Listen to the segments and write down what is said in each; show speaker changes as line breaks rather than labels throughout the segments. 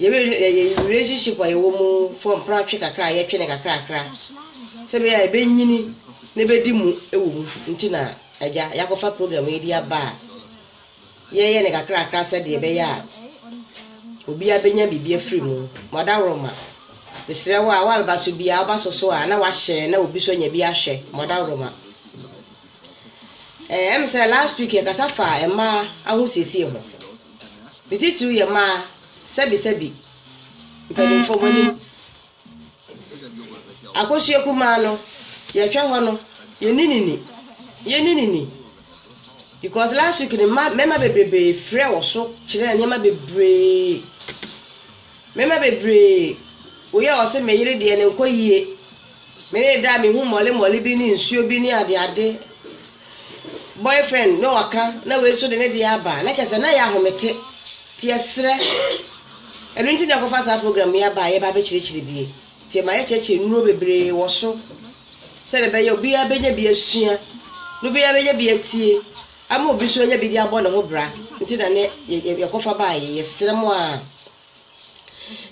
Yɛ relationship a yɛwɔ mu fɔ mpra twe kakra a yɛtwe no kakrakra sɛ bɛyɛ a ɛbɛnyini na ɛbɛdi mu wɔ mu nti na agya yɛakɔfa program yi de aba a yɛyɛ no kakrakra sɛdeɛ ɛbɛyɛ a obiara bɛnya biribi afiri mu mɔdaworoma mesrɛ wo a wo a bɛba so biara woba so so a na wahyɛ na obi so anya bi ahwɛ mɔdaworoma ɛm sɛ last week yɛkasa fa mmaa ahosiesie ho Ne titiriw yɛ mmaa, sɛbisɛbi mpanimfoɔ mo anim. Akosua kumaa no, yɛhwɛ hɔ no, yɛni ne ni. Yɛni ne ni. Because last week no, mma mmarima bebree frɛ wɔ so kyerɛ nneɛma bebree. Mmarima bebree, woyɛ ɔse me yere deɛ no nkɔ yie. Me ne da a mehu mmɔle mmɔle bi ne nsuo bi ne ade ade boyfriend na ɔka na wei nso de ne deɛ aba na kyɛ sɛ na yɛ ahomete nti yɛsrɛ ɛno nti na ɛkɔfa saa program yi aba a yɛba bɛkyerɛkyerɛ bie nti ɛma yɛkyerɛkyerɛ nnuro bebree wɔ so sɛ ne bɛyɛ obiara bɛnya bi asua na obiara bɛnya bi atie ama obi nso anya bi de abɔ ne ho bra nti na ne yɛkɔfa baa yɛ yɛsrɛ mo a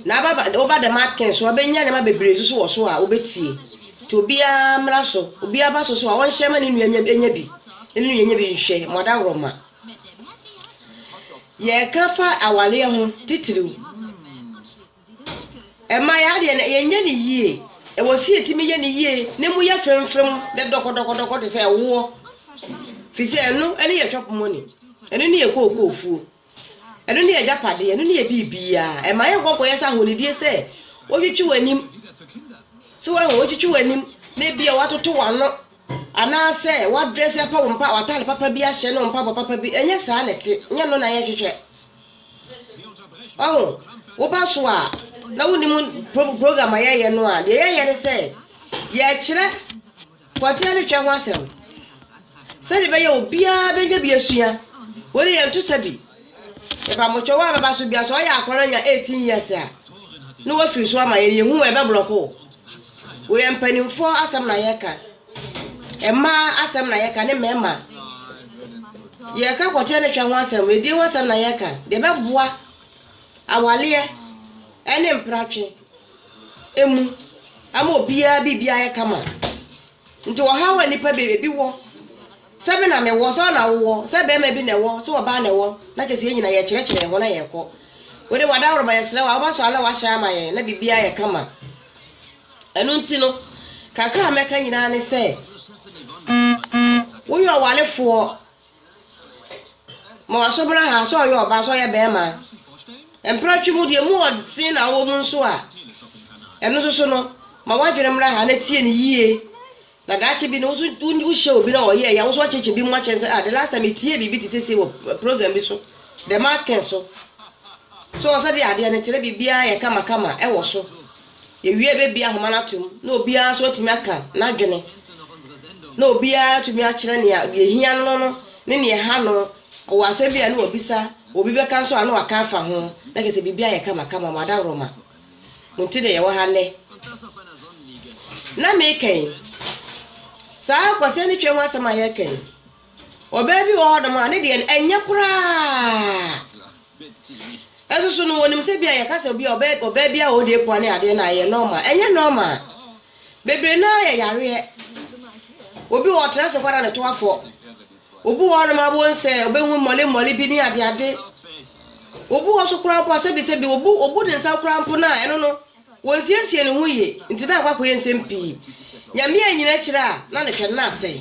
Na aba ba woba dɛm aken so a ɔbɛnya nneɛma bebree nso so wɔ so a wobɛtie. Nti obiara mmra so, obiara ba so so a ɔnhyɛ ma ne nua nya nya bi, ne nua nya bi nhwɛ ma ɔda worɔ ma. Yɛreka fa awaleɛ ho titiriw. Ɛma yɛ adeɛ no yɛnyɛ ne yie. Ɛwɔ si yɛtumi yɛ ne yie ne mu yɛ fremfrem dɛ dɔkɔdɔkɔdɔkɔ te sɛ ɛwoɔ. Firi sɛ ɛno ɛne yɛ chop money, ɛno ne yɛ kookoofuo. Ɛno ne agyapade, ɛno ne yɛ biribiara. Ɛma yɛ nkɔkɔ yɛ sɛ ahonidie sɛ wotwitwi w'anim. So wɔn wotwitwi w'anim na ebi a watoto w'ano anaasɛ wadrɛs apa wɔn mpa w'ataade papa bi ahyɛ no mpaboa papa bi ɛnyɛ saa na ɛte nyɛ no na yɛhwehwɛ. Ɔho woba so a na wonim program a yɛyɛ no a deɛ yɛyɛ ne sɛ yɛkyerɛ Pɔtee ne twɛ ho asɛm no, sɛdeɛ ɛbɛyɛ a obiara bɛnya bi asua. Wei deɛ yɛnto sa bi. Yɛpa mo twɛ wo a bɛba so bia sɛ ɔyɛ akora no anya 18 years a na wafiri so ama yɛn yɛhu wɔ ɛbɛblɔko wo. Wei yɛ mpanimfoɔ asɛm na yɛka. Mmaa asɛm na yɛka ne mmarima. Yɛka pɔtee ne twɛ ho asɛm, edie ho asɛm na yɛka. Deɛ ɛbɛboa awaleɛ ɛne mpratwe. mu ama obiara biribi ayɛ kama. Nti ɔhaw a nnipa be ebi wɔ, sɛ me na mewɔ, sɛ ɔna wowɔ, sɛ barima bi na ɛwɔ, sɛ ɔbaa na ɛwɔ, na kyerɛ sɛ yɛn nyinaa yɛkyerɛkyerɛ yɛn ho na yɛkɔ. Wode w'adaworo ma yɛsrɛ wo a wobɛsɔ ano na wahyɛ ama yɛn na biribi ayɛ kama. Ɛno nti no, kakra a mɛka nyinaa ne sɛ woyɛ ɔwarefoɔ Ma wɔasɔbɔn aha sɛ ɔyɛ ɔbaa sɛ ɔyɛ bɛrima. Mprɛtwe mu deɛ mu wɔ den na wɔ mu nso a ɛno nso so no ma w'adwene mmra ha na tie no yie na daakye bi no woso wohyɛ obi na ɔyɛ ya woso akyekye bi mu akyɛn sɛ ah the last time metie biribi te sese wɔ program bi so dɛm akɛn so so ɔsɛ de adeɛ no kyerɛ biribiara yɛ kamakama ɛwɔ so Yɛwie a yɛbɛbue ahoma no atom na obiara nso atumi aka n'adwene na obiara atumi akyerɛ nea deɛ hia no no ne nea ɛha no ɔwɔ asɛm bi a ne wabisa obi bɛka nso a na waka afa ho na kyerɛ sɛ biribi ayɛ kama kama mo adaworoma mo nti na yɛwɔ ha nnɛ na meka yi saa akwatia ne twam asɛm a yɛka yi ɔbaa bi wɔ hɔnom a ne deɛ ɛnyɛ koraa Nso so no, wɔnim sɛ bia yɛka sɛ obia ɔbɛ ɔbaa bia ɔde apua ne adeɛ no a ɛyɛ normal. Ɛnyɛ normal. Bebree no ara yɛ yareɛ. Obi wɔ ɔtena ase kwara ne to afɔ. Obi wɔ hɔnom a wɔn sɛ ɔbɛhu mmɔlemmɔle bi ne adeade. Obi wɔ so koraa mpo a sɛbisɛbi obu obu ne nsa koraa mpo no a ɛno no wɔnsiesie ne ho yie nti na akɔ akɔyɛ nsɛm pii. Nyame annyina akyire a na ne hwɛ no na asɛe.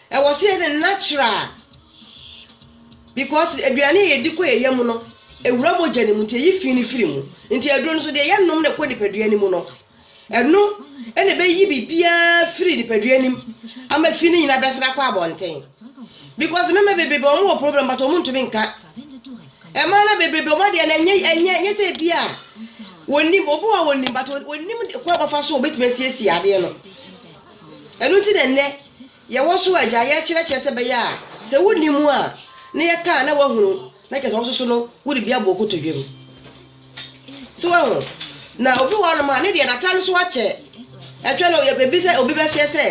Ɛwɔ sɛ yɛyɛ no natural because aduane a yɛdi kɔ yɛn yam no ɛwura mogya no mu nti ɛyi fi no firi mu nti aduro no so deɛ yɛnom no ɛkɔ nipadua no mu no ɛno ɛna ɛbɛyi biribiara firi nipadua no mu ama fi no nyinaa bɛsena akɔ abɔnten because mɛma bebrebe wɔn wɔ problem but wɔn ntumi nka ɛmaa na bebrebe wɔn adeɛ na ɛnyɛ ɛnyɛ ɛnyɛ sɛ ebi a wɔnim obi wɔ wɔnim but wɔnim kɔ abɔfa so wɔbɛtumi asiesie adeɛ no. Ɛno nti na nnɛ yɛwɔ so a agya yɛkyerɛkyerɛ sɛ bɛyɛ a sɛ wonni mu a na yɛka a na wahunu na kyerɛ sɛ wo soso no wode bi abɔ kotodwam so wahu na obi wɔ hɔnom a ne deɛ n'atare so akyɛ ɛtwɛ no ebi sɛ obi bɛseɛ sɛ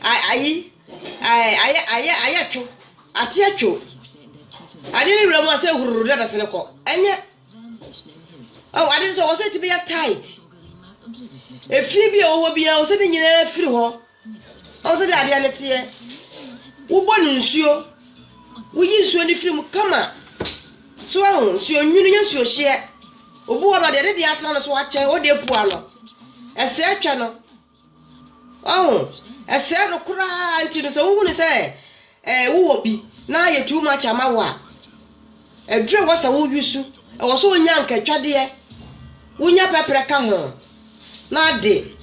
ayi ayɛ ayɛ ayɛ two ateɛ two ade ne wura mu a sɛ hururu na bɛsene kɔ ɛnyɛ Oh, ade nso ɔsɛ ti bi yɛ tight. Efie bi a ɔwɔ bi a ɔsɛ ne nyinaa firi hɔ. Ɔsɛ de adeɛ ne teɛ. Wobɔ no nsuo. Woyi nsuo no firi mu kama. So ahu nsuo nwunu yɛ nsuo hyeɛ. Obi wɔ no deɛ ne deɛ atena no so akyɛ ɔde apua no. Ɛsɛ atwa no. Wahu? Ɛsɛe no koraa nti no sɛ wohunu sɛ eh, wowɔ bi na ayɛ too much ama wo a, aduru ɛwɔ sɛ woyusu, ɛwɔ sɛ wonya nkatwadeɛ, wonya pɛprɛ ka ho na ade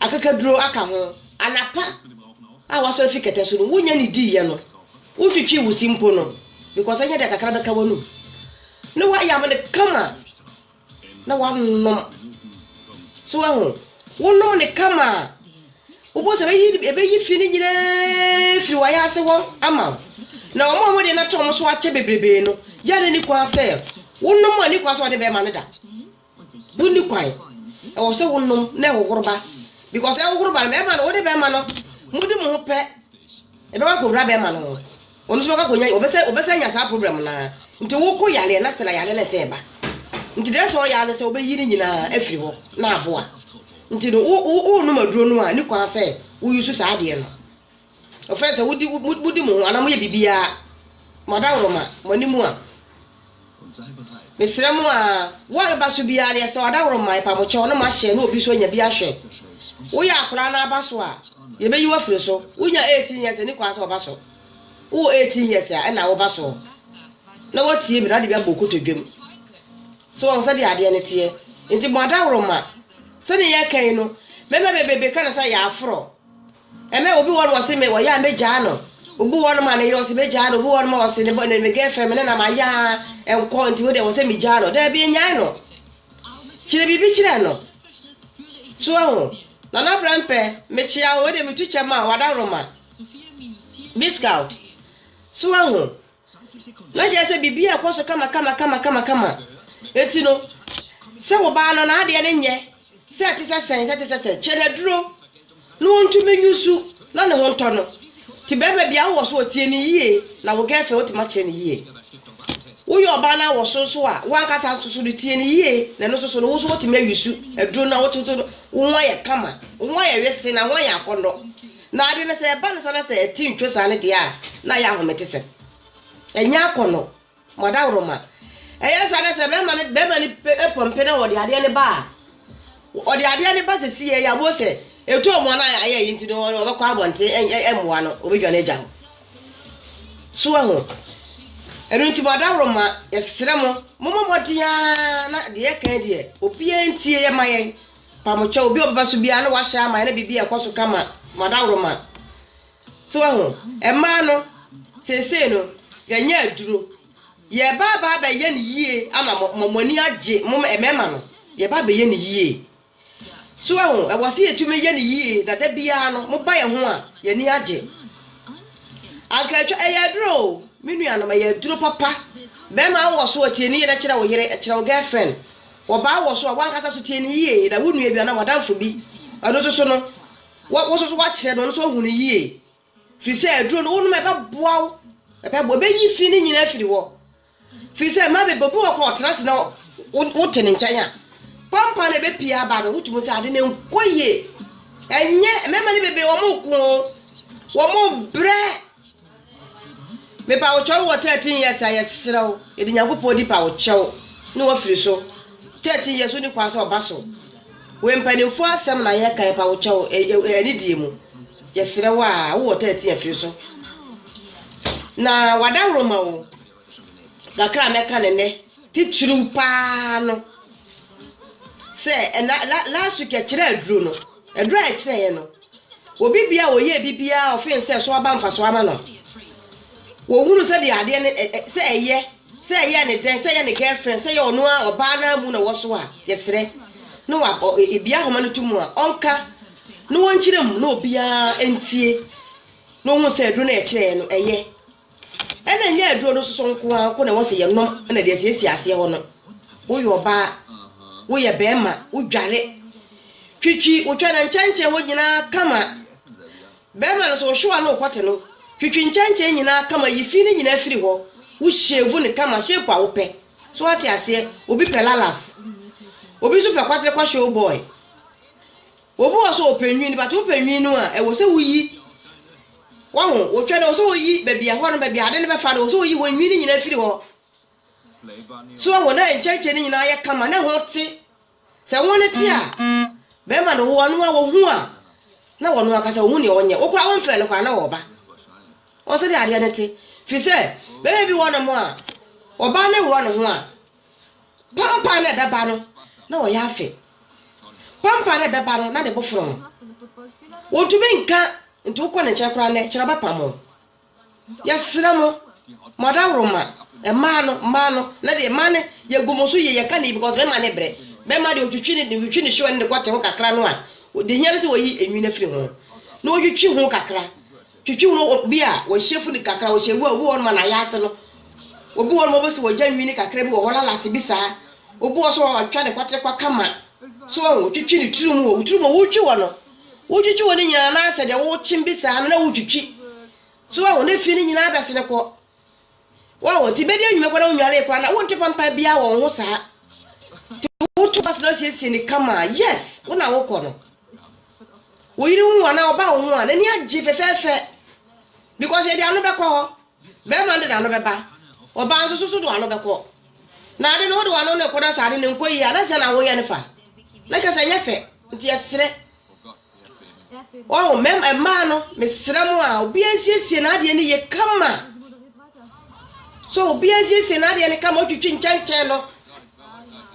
akakaduro aka ho. Anapa a wasɔre fi kɛtɛ so no, wonya ne diiɛ no, wotwitwi wo si mpo no, because ɛnyɛ deɛ kakra bɛka w'anum na woayam no kama. na wɔanom. So woahu? Wonom no kama a, wobɛhu sɛ ɛbɛyi ɛbɛyi fi no nyinaa firi w'ayase hɔ ama wo. Na wɔn a wɔde no ato wɔn so akyɛ bebrebe no, yɛ ne ne kwan sɛ wonom a ne kwan sɛ wɔde bɛrima no da. Wonni kwan. Ɛwɔ sɛ wonom na ɛhohoro ba. Because ɛhohoro ba no, bɛrima no, wode bɛrima no, modi mo ho pɛ, ɛbɛba kɔwura bɛrima no ho. Ɔno nso bɛkɔ akɔnya ɔbɛsɛ ɔbɛsɛ anya saa problem no ara nti wokɔ yareɛ na stela yareɛ no ɛsɛ ɛba nti deɛ ɛsɛ ɔyɛ ano sɛ wobɛyi ne nyinaa afiri hɔ na aboa nti no wo wo wo nom aduro no a ne kwan sɛ woyi so saa adeɛ no ɔfɛn sɛ wodi wodi mo ho anaa moyɛ biribiara mo adaworo ma mo anim a Mesrɛ mo a wo a bɛba so biara deɛ sɛ ɔdaworo mma ɛpamokyɛw na moahyɛ na obi nso anya bi ahwɛ. Woyɛ akwaraa na aba so a, yɛbɛyi wafiri so. Wonya 18 years ani kwan sɛ ɔba so. Wowɔ 18 years a ɛna woba so na woatie bi na ade bi abɔ kotodwam. So wɔn sɛ de adeɛ no teɛ. Nti mo adaworo ma sɛdeɛ yɛka yi no mɛma bebrebe ka no sɛ yɛaforɔ. Ɛmɛ obi wɔ no ɔse me ɔyɛ a mɛgyaa no obi wɔ no ma ne yere ɔse mɛgyaa no obi wɔ no ma ɔse ne bɔ ne me girlfriend me ne na mayɛ a ɛnkɔ nti wo deɛ wɔ sɛ megyaa no daabi nyae no kyerɛ biribi kyerɛ no so ahu na na brɛ mpɛ mekyea wo wei deɛ metu kyɛ ma wadaworoma discount so ahu Na kyerɛ sɛ biribi a ɛkɔ so kamakamakamakamakamakama. Enti no, sɛ wo ba no n'adeɛ no nyɛ sɛ ɛte sɛ sɛn sɛ ɛte sɛ sɛn, kyɛ no aduro na ɔntumi nyusu na ne ho ntɔ no. Nti bɛrima bia wowɔ so a tie no yie na wo girlfriend wotumi akyerɛ no yie. Woyɛ ɔbaa no a wɔ so nso a, w'ankasa nso so no tie no yie na ɛno nso so no wo nso woatumi ayusu aduro no na wo nso so no wo ho ayɛ kama, wo ho ayɛ wese na wo ho ayɛ akɔnnɔ. Na ade no, sɛ ɛba no saa na sɛ ɛte ntwo saa no deɛ a, na ɛyɛ ahometesɛm. Ɛnyɛ akɔnnɔ. Mo adaworoma. Ɛyɛ saa na sɛ bɛrima no bɛrima no pɔmpe na ɔde adeɛ no ba a, ɔde adeɛ no ba sɛ si yɛ abo sɛ etu ɔmo ana ayɛ yi nti no ɔbɛkɔ abɔnten ɛmmoa no ɔbɛdwa no agya hɔ. So ɛho. Ɛno nti mo adaworoma yɛsrɛ mo, mo mmɔ mmɔden ara na deɛ yɛka deɛ obiara ntie yɛ ma yɛn. Mpamokyɛ, obi a ɔbɛba so biara na wahyɛ ama ɛna biribi a ɛkɔ so kama ma dawroma. So wahu? Mmaa no, seesei no, yɛanya aduro. Yɛreba aba abɛyɛ no yie ama mo, ma mo ani agye, mo mmarima no. Yɛreba abɛyɛ no yie. So wahu? Ɛwɔ sɛ yɛtumi yɛ no yie, na da biara no, moba yɛn ho a, yɛn ani agye. Anka atwa, ɛyɛ aduro o, me nuanom, ɛyɛ aduro papa. Bɛrima wowɔ so ɔtiani yere kyerɛ wo yere, kyerɛ wo girlfriend. Ɔbaa wɔ so a wankasa so tie no yie na wo nua bi anaa w'adamfo bi ɛno nso so no wo nso so wakyerɛ no ɔno nso ahu no yie firi sɛ aduro no wonom ɛbɛboa wo ɛbɛboa ɛbɛyi fi no nyinaa firi hɔ firi sɛ mmaa bebree obi wɔ kɔ ɔtena ase na wote ne nkyɛn a pampa na ɛbɛpie aba no wotumi sɛ ade no nkɔ yie ɛnyɛ mmarima no bebree wɔn ko wɔn brɛ Mepa wo kyɛw wɔ 13 years a yɛserɛ wo yɛde Nyankopɔn di pa wo kyɛw ne wafiri so 13 years wonni kwan sɛ ɔba so we mpanimfoɔ asɛm na yɛka yɛpa wo kyɛw yɛ anidie mu yɛserɛ wo a wowɔ 13 afiri so na wadaworo ma wo Kakra a mɛka no nnɛ, titiriw paa no sɛ ɛna la last week ɛkyerɛ aduro no, aduro a ɛkyerɛeɛ no, obi bia a ɔyɛ bi biara ɔfen sɛ so aba mfasoɔ ama no. Wɔhunu sɛ deɛ adeɛ no sɛ ɛyɛ sɛ ɛyɛ ne dɛn sɛ ɛyɛ ne girlfriend sɛ ɛyɛ ɔno a ɔbaa no amu na wɔso a yɛsrɛ na wa ebi ahoma no to mu a ɔnka na wɔnkyerɛ mu na obiara ntie na ɔhu sɛ aduro no ɛkyerɛeɛ no ɛyɛ. Ɛna ɛnyɛ aduro no soso nko ara nko na ɛwɔ sɛ yɛnom na ɛde asiesie aseɛ hɔ no. Woyɛ ɔbaa, woyɛ bɛrima, wodware, twitwi wotwa na nkyɛnkyɛn hɔ nyinaa kama. Bɛrima no so wohyewa no wokɔte no, twitwi nkyɛnkyɛn nyinaa kama, yi fi no nyinaa firi hɔ, wohyevu no kama, shape a wopɛ. So ate aseɛ, obi pɛ lalas, obi nso pɛ kwatere kwahyew boy. Obi wɔ hɔ sɛ ɔpɛ nwin but wopɛ nwin no a ɛwɔ sɛ woyi wahu wotwa no ɛwɔ sɛ woyi baabi ɛhɔ no baabi ade no bɛfa no ɛwɔ sɛ woyi hɔ nwin no nyinaa firi hɔ so wahu na nkyɛnkyɛn no nyinaa yɛ kama na ho te sɛ ho no te a bɛrima no wo ɔno a wɔhu a na wɔno akasa wɔhu deɛ wɔnyɛ wokora womfrɛ no koraa na wɔba ɔsɛ de adeɛ no te firi sɛ bɛrima bi wɔ no mo a ɔbaa no wura ne ho a Pampa no a ɛbɛba no, na ɔyɛ afe. Pampa no a ɛbɛba no, na ne bo foro no. Wɔntumi nka nti wokɔ ne nkyɛn koraa nnɛ, kyerɛ ɔbɛpam wo. Yɛsrɛ mo, mo adaworoma, mmaa no, mmaa no, na deɛ mmaa no yɛgu mo so yie, yɛka ne yi because mɛma ne brɛ. Mɛma deɛ ɔtwitwi ne ɔtwitwi ne hyewa ne ne kɔte ho kakra no a, deɛ hia no sɛ wɔyi enwi no afiri ho. Na ɔtwitwi ho kakra. Twitwi no obi a wɔhyɛ funu kakra, wɔhyɛ vu a obi wɔ hɔnom a n'ayɛ ase no. Obi wɔ hɔnom a wobɛsi wɔgya nwini kakra bi wɔ hɔ, lalase bi saa. Obi wɔ so a wɔatwa ne kwaterekwa kama. So wɔn, wotwitwi ne tiri mu o, tiri mu wotwi hɔ no. Wotwitwi hɔ no nyinaa na asɛ deɛ wokyem bi saa no na wotwitwi. So wɔn, ne fi no nyinaa bɛsene kɔ. Wahu? Nti bedi anwumɛ kora wonwaree kora na wonte pampa biara wɔ wo ho saa. Nti woto bus na siesie ne kama. Yes, wo na wokɔ no. Wo yere hu anaa ɔba wo ho a n'ani agye fɛfɛɛfɛ because yɛde ano bɛkɔ hɔ. Bɛrima no de n'ano bɛba. Ɔbaa nso so so de ano bɛkɔ. Na ade no wode w'ano ne kɔ na sɛ ade no nkɔ yie a na sɛ na woyɛ no fa. Na kyerɛ sɛ ɛnyɛ fɛ. Nti yɛsrɛ. Wahu, mɛm mmaa no, mesrɛ mo a, obiara nsiesie n'adeɛ no yie kama. So obiara nsiesie n'adeɛ no kama, otwitwi nkyɛnkyɛn no.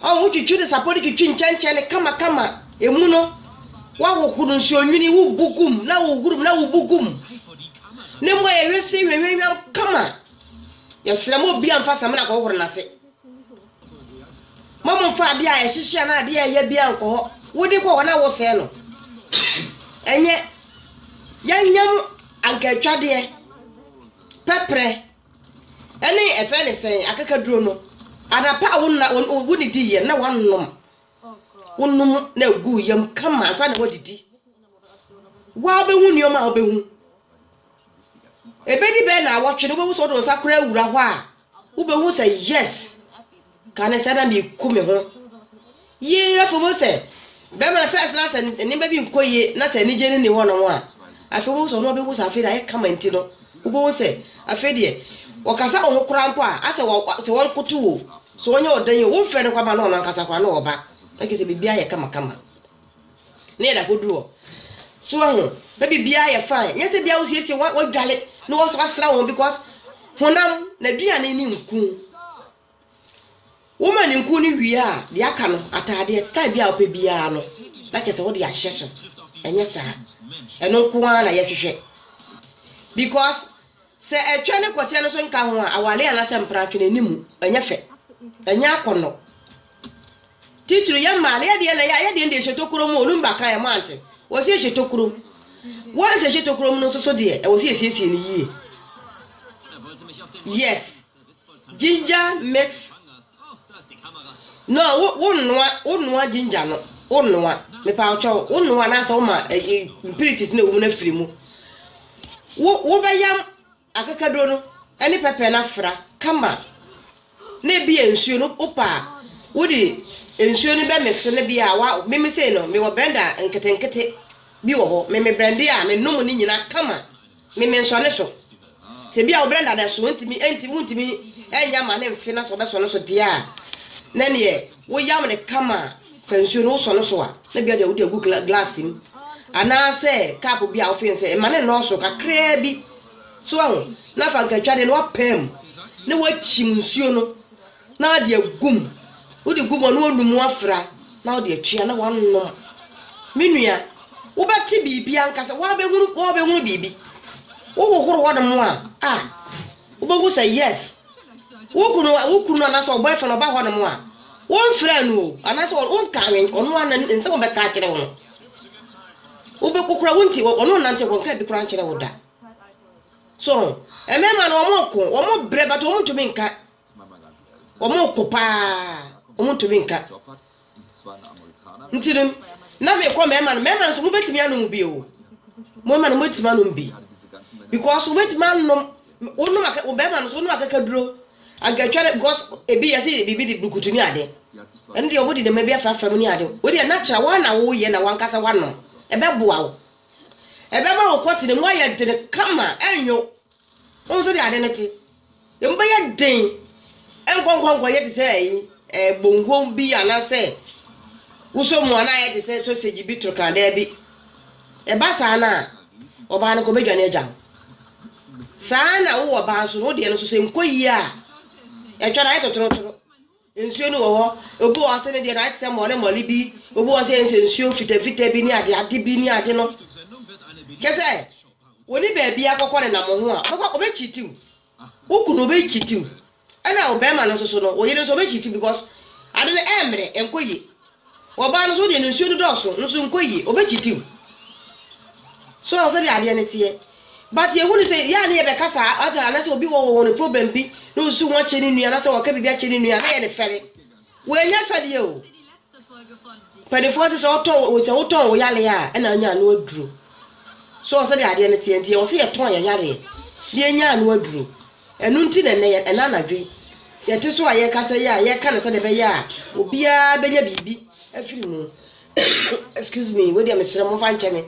Ɔho twitwi no sapɔ no twitwi nkyɛnkyɛn no kama kama. Emu no, wahohoro nsuo nwini, wobu gum, na wohurum, na wobu gum. Ne mmɔ yɛ wese hwehwehwam kama. Yɛsrɛ mo obiara mfa samina kɔhohoro n'ase. Mommfa adeɛ a ɛhyehye anaa adeɛ a ɛyɛ biara nkɔ hɔ. Wode kɔ hɔ na wosɛe no. Ɛnyɛ yɛnyam ankaatwadeɛ, pɛprɛ, ɛne ɛfɛ ne sɛn akakaduro no. Anapa a wonna wonnidiiɛ no na woanom. Wonom na ɛgu yam kama ansa na woadidi. Woabɛhu nneɛma a wobɛhu. Ɛbɛdi bɛyɛ nnawɔtwe no wobɛhu sɛ wode wo nsa koraa wura hɔ a. Wobɛhu sɛ yes kane sɛ na meku me ho yie afei mu sɛ bɛrima no fɛs na sɛ nneɛma bi nkɔ yie na sɛ anigye no ni hɔ nom a afei mu sɛ ɔno ɔbɛhu sɛ afei deɛ ayɛ kama nti no wobɛhu sɛ afei deɛ wɔkasa wɔn ho koraa mpo a asɛ sɛ wɔn koto wo sɛ wɔnyɛ ɔdan yi wɔn fɛ no kɔ ama no ɔno ankasa koraa na ɔba ɛkɛ sɛ biribi ayɛ kama kama Ne yɛ da koduru hɔ. So ho, na biribiara yɛ fine. Nyɛ sɛ bia wosiesie wadwale na wasra wɔn because honam na aduane ne nku. Woma ne nku no wie a, deɛ aka no ataadeɛ style bi a wopɛ biara no na kyɛ sɛ wode ahyɛ so. Ɛnyɛ saa. Ɛno nko ara na yɛhwehwɛ. Because sɛ ɛtwa ne kɔteɛ no so nka ho a awale anaasɛ mpratwe no anim ɛnyɛ fɛ. Ɛnyɛ akɔnnɔ. Titiri yɛ mmaa no, yɛdeɛ na yɛdeɛ deɛ hyɛ tokuro mu, ɔnum baka yɛ mo ante, wɔ si yɛ hyɛ tokuro mu. Once yɛ hyɛ tokuro mu no nso so deɛ, ɛwɔ si yɛ siesie no yie. Yes, ginger mix. No, wo wo nnoa, wo nnoa ginger no, wo nnoa. Mepa ɔkyɛw, wo nnoa na asɛ wo ma eh, eh, mpiritis na ɛwɔ mu na firi mu. Wo wo bɛyam. Akakaduro no ne pɛpɛ no afra kama na ebi yɛ nsuo no wopɛ a wode nsuo no bɛ mix no bi a wa mimi sei no mewɔ blender nketenkete bi wɔ hɔ mimi blende a menom ne nyina kama mimi nsɔ ne so sɛ bi a wo blender no ɛso ntumi ntumi ntumi ɛnya ma ne mfe na sɛ ɔbɛsɔ no so deɛ a na neɛ Woyam no kama a, fa nsuo no wosɔ no so a, na bia deɛ wode agu glass mu anaasɛ cup bi a wofen sɛ mma ne nnɔɔso kakraa bi so ahu na fa nkatwadeɛ no wapaa mu na wakyim nsuo no na wode agum wode gu mu a na wonum wafra na wode atua na wanom me nua wobɛte biribi ankasa wabɛhunu wabɛhunu biribi wohohoro hɔ nom a a wobɛhu sɛ yes wo kunu a wo kunu anaasɛ wo boyfriend ɔba hɔ nom a womfrɛ no o anaasɛ wonka awɛn ɔno a nsɛm ɔbɛka akyerɛ wo no wobɛkokora wo nti ɔno nnante hɔ nka bi koraa nkyerɛ wo da so mmarima no wɔn ko wɔn brɛ but wɔn ntumi nka wɔn ko paa wɔn ntumi nka nti no na mekɔ mmarima no mmarima no nso mobɛtumi anom bi o mmarima no mobɛtumi anom bi because wobɛtumi anom wonom aka bɛrima no so wonom akakaduro ankatwa no because ebi yɛsi biribi de burukutu ne ade ɛno deɛ wɔde nneɛma bi afrafra mu ne ade wode ɛna kyerɛ wɔn na woyɛ na wankasa wanom ɛbɛboa wo ɛbɛma wo kɔte ne mu ayɛ dene kama ɛnwo Wohu sɛdeɛ ade no te? Emu bɛyɛ den nkɔnkɔnkɔ yɛ te sɛ ɛyi ɛɛ bongo bi anaasɛ wosɔ mu anaa yɛ te sɛ sausage bi toro kan daabi. Ɛba saa no a, ɔbaa no kɔbɛdwane agya wo. Saa na wowɔ ɔbaa nso no, wo deɛ no nso sɛ nkɔ yie a, ɛtwa no ayɛ totorotoro. Nsuo no wɔ hɔ, obi wɔ hɔ ase no deɛ no ayɛ te sɛ mmɔle mmɔle bi, obi wɔ sɛ yɛn sɛ nsuo fitafita bi ne ade ade bi ne ade no. Kyɛ sɛ wɔne baabi akɔkɔ ne nam ho a, ɔbɛkɔ ɔbɛkyitiw. Wo kunu ɔbɛkyitiw. Ɛna ɔbɛrima no nso so no, wo yere nso ɔbɛkyitiw because ade no ɛmmerɛ, ɛnkɔ yie. Ɔbaa no nso wodeɛ ne nsuo no dɔɔso nso nkɔ yie ɔbɛ cheat wo so ɔsɛ deɛ adeɛ no teɛ but yɛ hu no sɛ yɛ a ne yɛ bɛka saa ɔte anasɛ obi wɔ wɔ ne problem bi na ɔsu ho akyɛ ne nua anasɛ wɔka biribi akyɛ ne nua na yɛ ne fɛre wɔanya fɛdeɛ o panifoɔ se sɛ ɔtɔn sɛ wotɔn wo yale a ɛna anya ano aduro so ɔsɛ deɛ adeɛ no teɛ nti yɛ ɔsɛ yɛ tɔn yɛ yareɛ deɛ nya ano aduro Ɛno nti na ɛnnɛ, ɛnnɛ anadwo yi, yɛte so a yɛrekasa yi a, yɛreka no sɛdeɛ ɛbɛyɛ a obiara bɛnya biribi afiri mu. Excuse me, wei deɛ mesrɛ mo mfa nkyɛ me.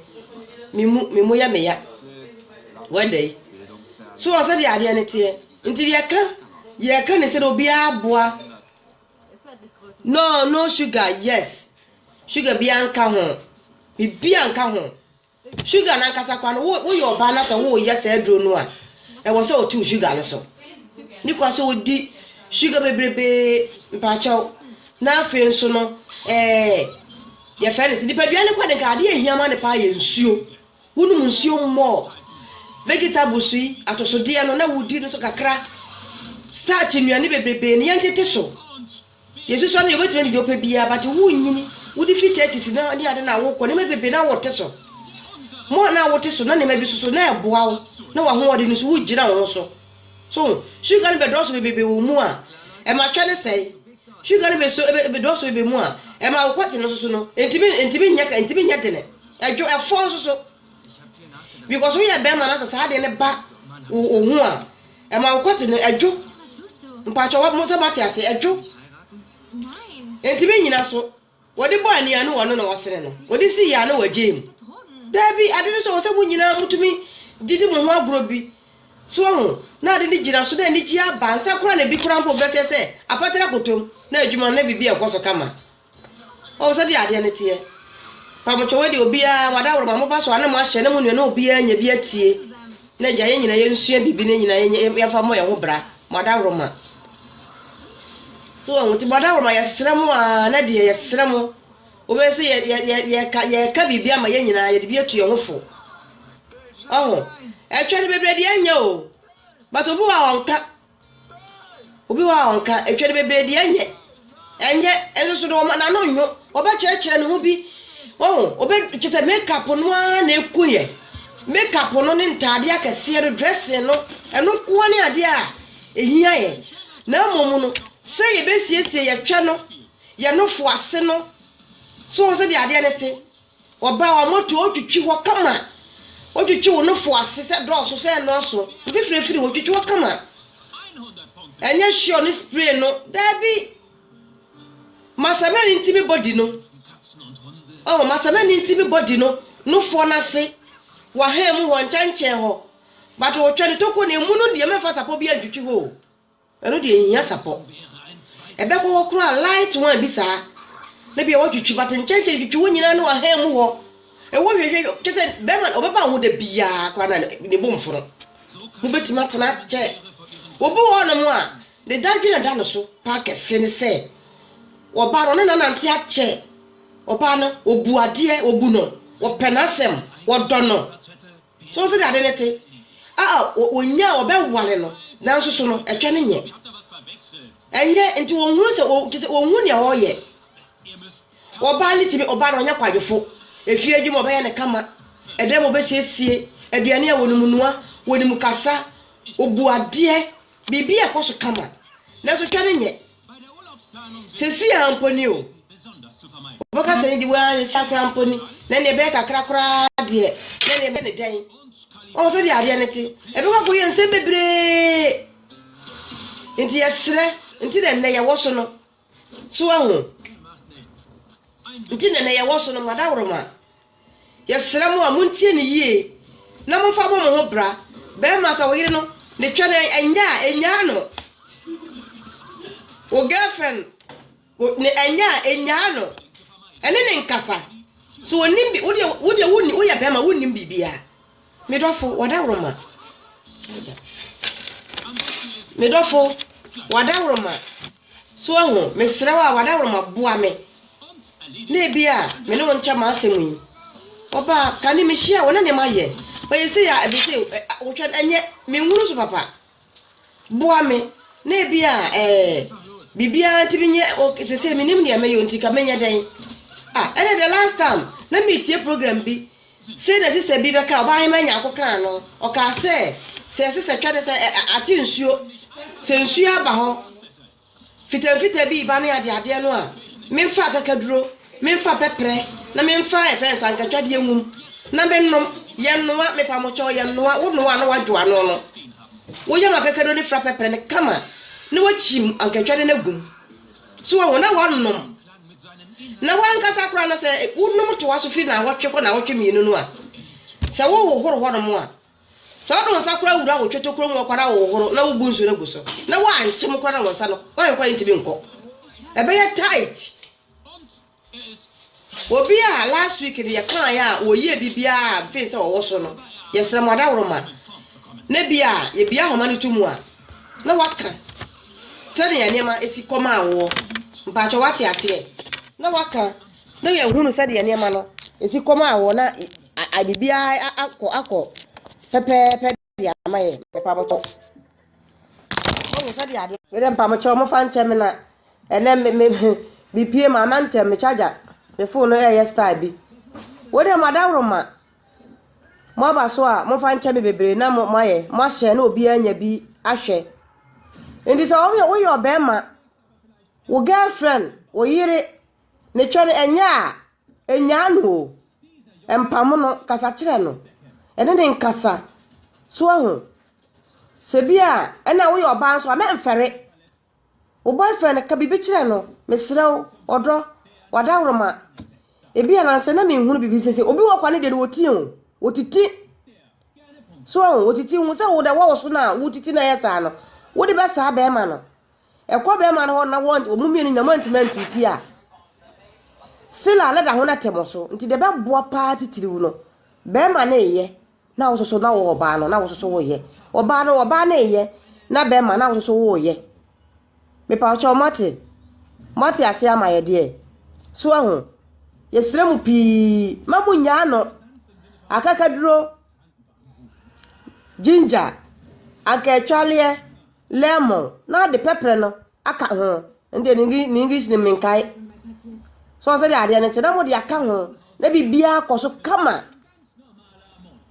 Me mu, me mu yɛ me ya. Wɛda yi. So wɔ sɛdeɛ adeɛ no teɛ. Nti deɛ ɛka, yɛreka ne sɛdeɛ obiara boa. No, no sugar, yes. Sugar biara nka ho. Biribiara nka ho. Sugar no ankasa kwa no, woyɛ ɔbaa na sɛ woyɛ saa aduro no a, ɛwɔ sɛ ɔte wo sugar no so. Ne kwa sɛ ɔdi sugar bebrebee mpaakyɛw. Na afei nso no, ɛɛ yɛfrɛ no sɛ nipadua no kwa de nka adeɛ a ɛhia ma no paa yɛ nsuo. Wonom nsuo mmɔɔ. Vegetables yi, atosodeɛ no na wodi no so kakra. Starch nnuane bebrebee no yɛntete so. Yesusua no deɛ wobɛtumi adi deɛ wopɛ biara but wonyini wode fi thirties na ne ade na wokɔ nneɛma bebree na wote so mo a na wote so na nneɛma bi so so na ɛboa wo na wahoɔden no so wogyina wo ho so so sugar no bɛdɔɔso bebrebe wɔ mu a ɛma twɛ ne sɛe sugar no bɛso bɛdɔɔso bebrebe mu a ɛma wokɔte no so so no ntumi ntumi nyɛ ntumi nyɛ dene ɛdwo ɛfɔ nso so because woyɛ bɛrima na sɛ saa adeɛ no ba wo ho a ɛma wo kɔte no ɛdwo mpakyɛ mo sɛ moate ase ɛdwo nti me nyina so wɔde bɔ anea ne wɔno na wɔsene no wɔde si yɛ a na wɔagye mu daabi ade no sɛ wɔ sɛ mo nyinaa motumi didi mo ho agorɔ bi so ahu na ade no gyina so na anigye aba nsa kora na bi kora mpo bɛsɛ sɛ apatara kotom na adwuma no na biribi ɛkɔ so kama Oh, sɛdeɛ adeɛ no teɛ. Pamotwɔ wei deɛ obiara mo adaworo ma mo ba so a na mo ahyɛ na mo nua na obiara nya bi atie. Na agya yɛn nyinaa yɛnsua biribi na nyinaa yɛmfa mmɔ yɛn ho bra. Mo adaworo ma. So wɔn ti mo adaworo ma yɛsrɛ mo a na deɛ yɛsrɛ mo. Wobɛyɛ sɛ yɛ yɛ yɛ yɛka yɛka biribi ama yɛn nyinaa yɛde bi atu yɛn ho fo. Ɔho. Ɛtwa no bebree deɛ ɛnyɛ o. But obi wɔ a ɔnka. Obi wɔ hɔ a ɔnka, atwa no bebree deɛ ɛnyɛ. Ɛnyɛ, ɛno so no wɔn n'ano nyo, wɔbɛkyerɛkyerɛ ne ho bi. Wɔn, obe kyɛ sɛ makeup no ara na ɛku yɛ. Makeup no ne ntaadeɛ akɛseɛ no, dressing no, ɛno nko ara ne adeɛ a ɛhia yɛ. Na mmom no, sɛ yɛbɛsiesie yɛtwɛ no, yɛn nofo ase no, so wɔn sɛdeɛ adeɛ no te. Wɔba a, wɔto wo twitwi hɔ kama. Wotwitwi wo nofo ase sɛ dɔɔso sɛ ɛnnɔɔso. Mfifirifiri, wotwitwi hɔ kama. Ɛnyɛ hyew ne spray no, daabi. Masamani ntumi bɔ di no. Oh, masamani ntumi bɔ di no. Nofoɔ no ase, wahan mu hɔ, nkyɛnkyɛn hɔ. But wotwa ne toko na emu no deɛ mɛmfa sapɔ bi antwitwi hɔ o. Ɛno deɛ ɛnhia sapɔ. Ɛbɛkɔ hɔ koraa a, light one bi saa na bia watwitwi but nkyɛnkyɛn twitwi hɔ nyinaa ne wahan mu hɔ ɛwɔ hwehwɛ kyɛ sɛ bɛrima ɔbɛba ho da biara koraa na ne bom fono mobɛtumi atena kyɛ obi wɔ nom a ne dadwene da no so paa kɛse ne sɛ ɔbaa no ne nanante akyɛ ɔbaa no ɔbu adeɛ ɔbu no ɔpɛ n'asɛm ɔdɔ no So sɛnea ade no te a wonnya a wɔbɛware no nanso so no, ɛtwɛ no nyɛ. Ɛnyɛ nti wɔnhunu sɛ te sɛ wɔnhu nea ɔreyɛ. Ɔbaa no tumi, ɔbaa no ɔnyɛ kwadwofo. Efie adwuma ɔbɛyɛ no kama, ɛdan mu ɔbɛsiesie, aduane a wɔnom nua, wɔnim kasa, obu adeɛ, biribi a ɛkɔ so kama. Nanso hwɛ no nyɛ. Seesei ara mpo ni o. Wɔbɛka sɛ nti waa nsa koraa mpo ni, na nea ɛbɛyɛ kakra koraa deɛ, na nea ɛbɛyɛ ne dɛn. Wɔn sɛdeɛ adeɛ no te, ɛbɛkɔ akɔyɛ nsɛm bebree. Nti yɛsrɛ, nti na nnɛ yɛwɔ so no. So ahu? Nti na nnɛ yɛwɔ so no, madaworoma. Yɛsrɛ mo a montie no yie na momfa mmɔ mo ho bra. Barima sɛ wo yere no ne twɛ no ɛnyɛ a, nnyaa no. Wo girlfriend ne ɛnyɛ a, nnyaa no. Ɛne ne nkasa. So ɔnim bi, wodeɛ woyɛ barima wonnim biribiara. Me dɔfo, wɔadaworoma. Me dɔfo, wɔadaworoma. So ahu, mesrɛ wo a wɔadaworoma boa me. Na ebi a me ne wo nkyɛ m'asɛm yi. Ɔbaa, kane mehyia wo na ne ma yɛ. Ɔyɛ sei a ɛbɛsɛ wotwa ɛnyɛ menhunu so papa. boa me na ebi a ɛɛ eh, biribiara ntumi nyɛ ok sɛ sɛ menim deɛ mɛyɛ nti ka menyɛ dɛn ah ɛna the last time na metie program bi sɛ na sista bi bɛka ɔbaa hema anya akɔkaa no ɔkaa sɛ sɛ sista twa ne sɛ ate nsuo sɛ nsuo aba hɔ Mfitamfitaa bi reba ne adeadeɛ no a, memfa akakaduro, memfa pɛprɛ, na memfa yɛfrɛ no sɛ ankatwadeɛ nwum na menom. Yɛnnoa, mepamokyɛw, yɛnnoa. Wonoa na woadwo ano no, woyam akakaduro no fra pɛprɛ no kama na woakyim ankatwadeɛ no agum. So wɔn na woanom. Na wankasa koraa no sɛ wonom toa so firi naawɔtwe kɔ naawɔtwe mmienu no a, sɛ wohohoro hɔnom a, Sɛ wɔde wɔn nsa kora wura wɔ twetokuro mu ɔkwan ahohoro na wobu nsu no gu so na wɔankyem mu koraa na wɔn nsa no wɔn koraa ntumi nkɔ. Ɛbɛyɛ tight. Obi a last week no yɛkaeɛ a wɔyie biribiara a mfei sɛ wɔwɔ so no, yɛsrɛ mo adaworo ma na bi a yɛbia ahoma no to mu a na waka sɛnea nneɛma esi kɔ maa woɔ. Mpakyɛ wate aseɛ na waka na yɛhunu sɛdeɛ nneɛma no esi kɔ maa woɔ na Ade biara akɔ akɔ pɛpɛɛpɛ de ama yɛ papa bɔtɔ. Ɔmo sɛ de ade. Yɛrɛ mpa mo kyɛ ɔmo fa nkyɛ me na ɛnɛ me me me pie ma ama ntɛm me charger me phone no ɛyɛ style bi. Wo de mo adaworo ma mo aba so a mo fa nkyɛ me bebree na mo mo ayɛ mo ahyɛ na obi anya bi ahwɛ. Nti sɛ ɔmo yɛ woyɛ ɔbɛrima wo girlfriend wo yere Ne twɛ no, ɛnyɛ a, nnyaa no o. Mpamo no, kasa kyerɛ no. Ɛne no nkasa. So ahu? Sɛ bi a, ɛna woyɛ ɔbaa nso a, mɛmfɛre. Wo boyfriend, ka biribi kyerɛ no. Mesrɛ wo, ɔdɔ, w'adaworoma. Ebi a nansa na menhunu biribi sese. Obi wɔ kwa ne deɛ no, wɔtie o. Wɔtiti. So ahu? Wɔtiti. Hu sɛ wo deɛ, wɔ wo so no a, wotiti na ɛyɛ saa no. Wode bɛsaa bɛrima no. Ɛkɔ bɛrima no hɔ na wɔn wɔn mmienu nyinaa wɔantumi antu ti a, sila a na da ho no atɛm so. Nti deɛ ɛbɛboa paa titiriw no, bɛrima no reyɛ na wo soso na wɔ ɔbaa no na wo soso woyɛ. Ɔbaa no ɔbaa no reyɛ na bɛrima na wo soso woyɛ. Mepa ɔkyɛ ɔmo ate. Mo ate ase ama yɛ deɛ. So ahu. Yɛsrɛ mu pii ma mo nyaa no. Akakaduro, ginger, anka atwaleɛ, Lemon na ɔde pɛprɛ no aka ho. Ɛno deɛ ne English no menkae. So sɛdeɛ adeɛ no te na mode aka ho na biribiara kɔ so kama.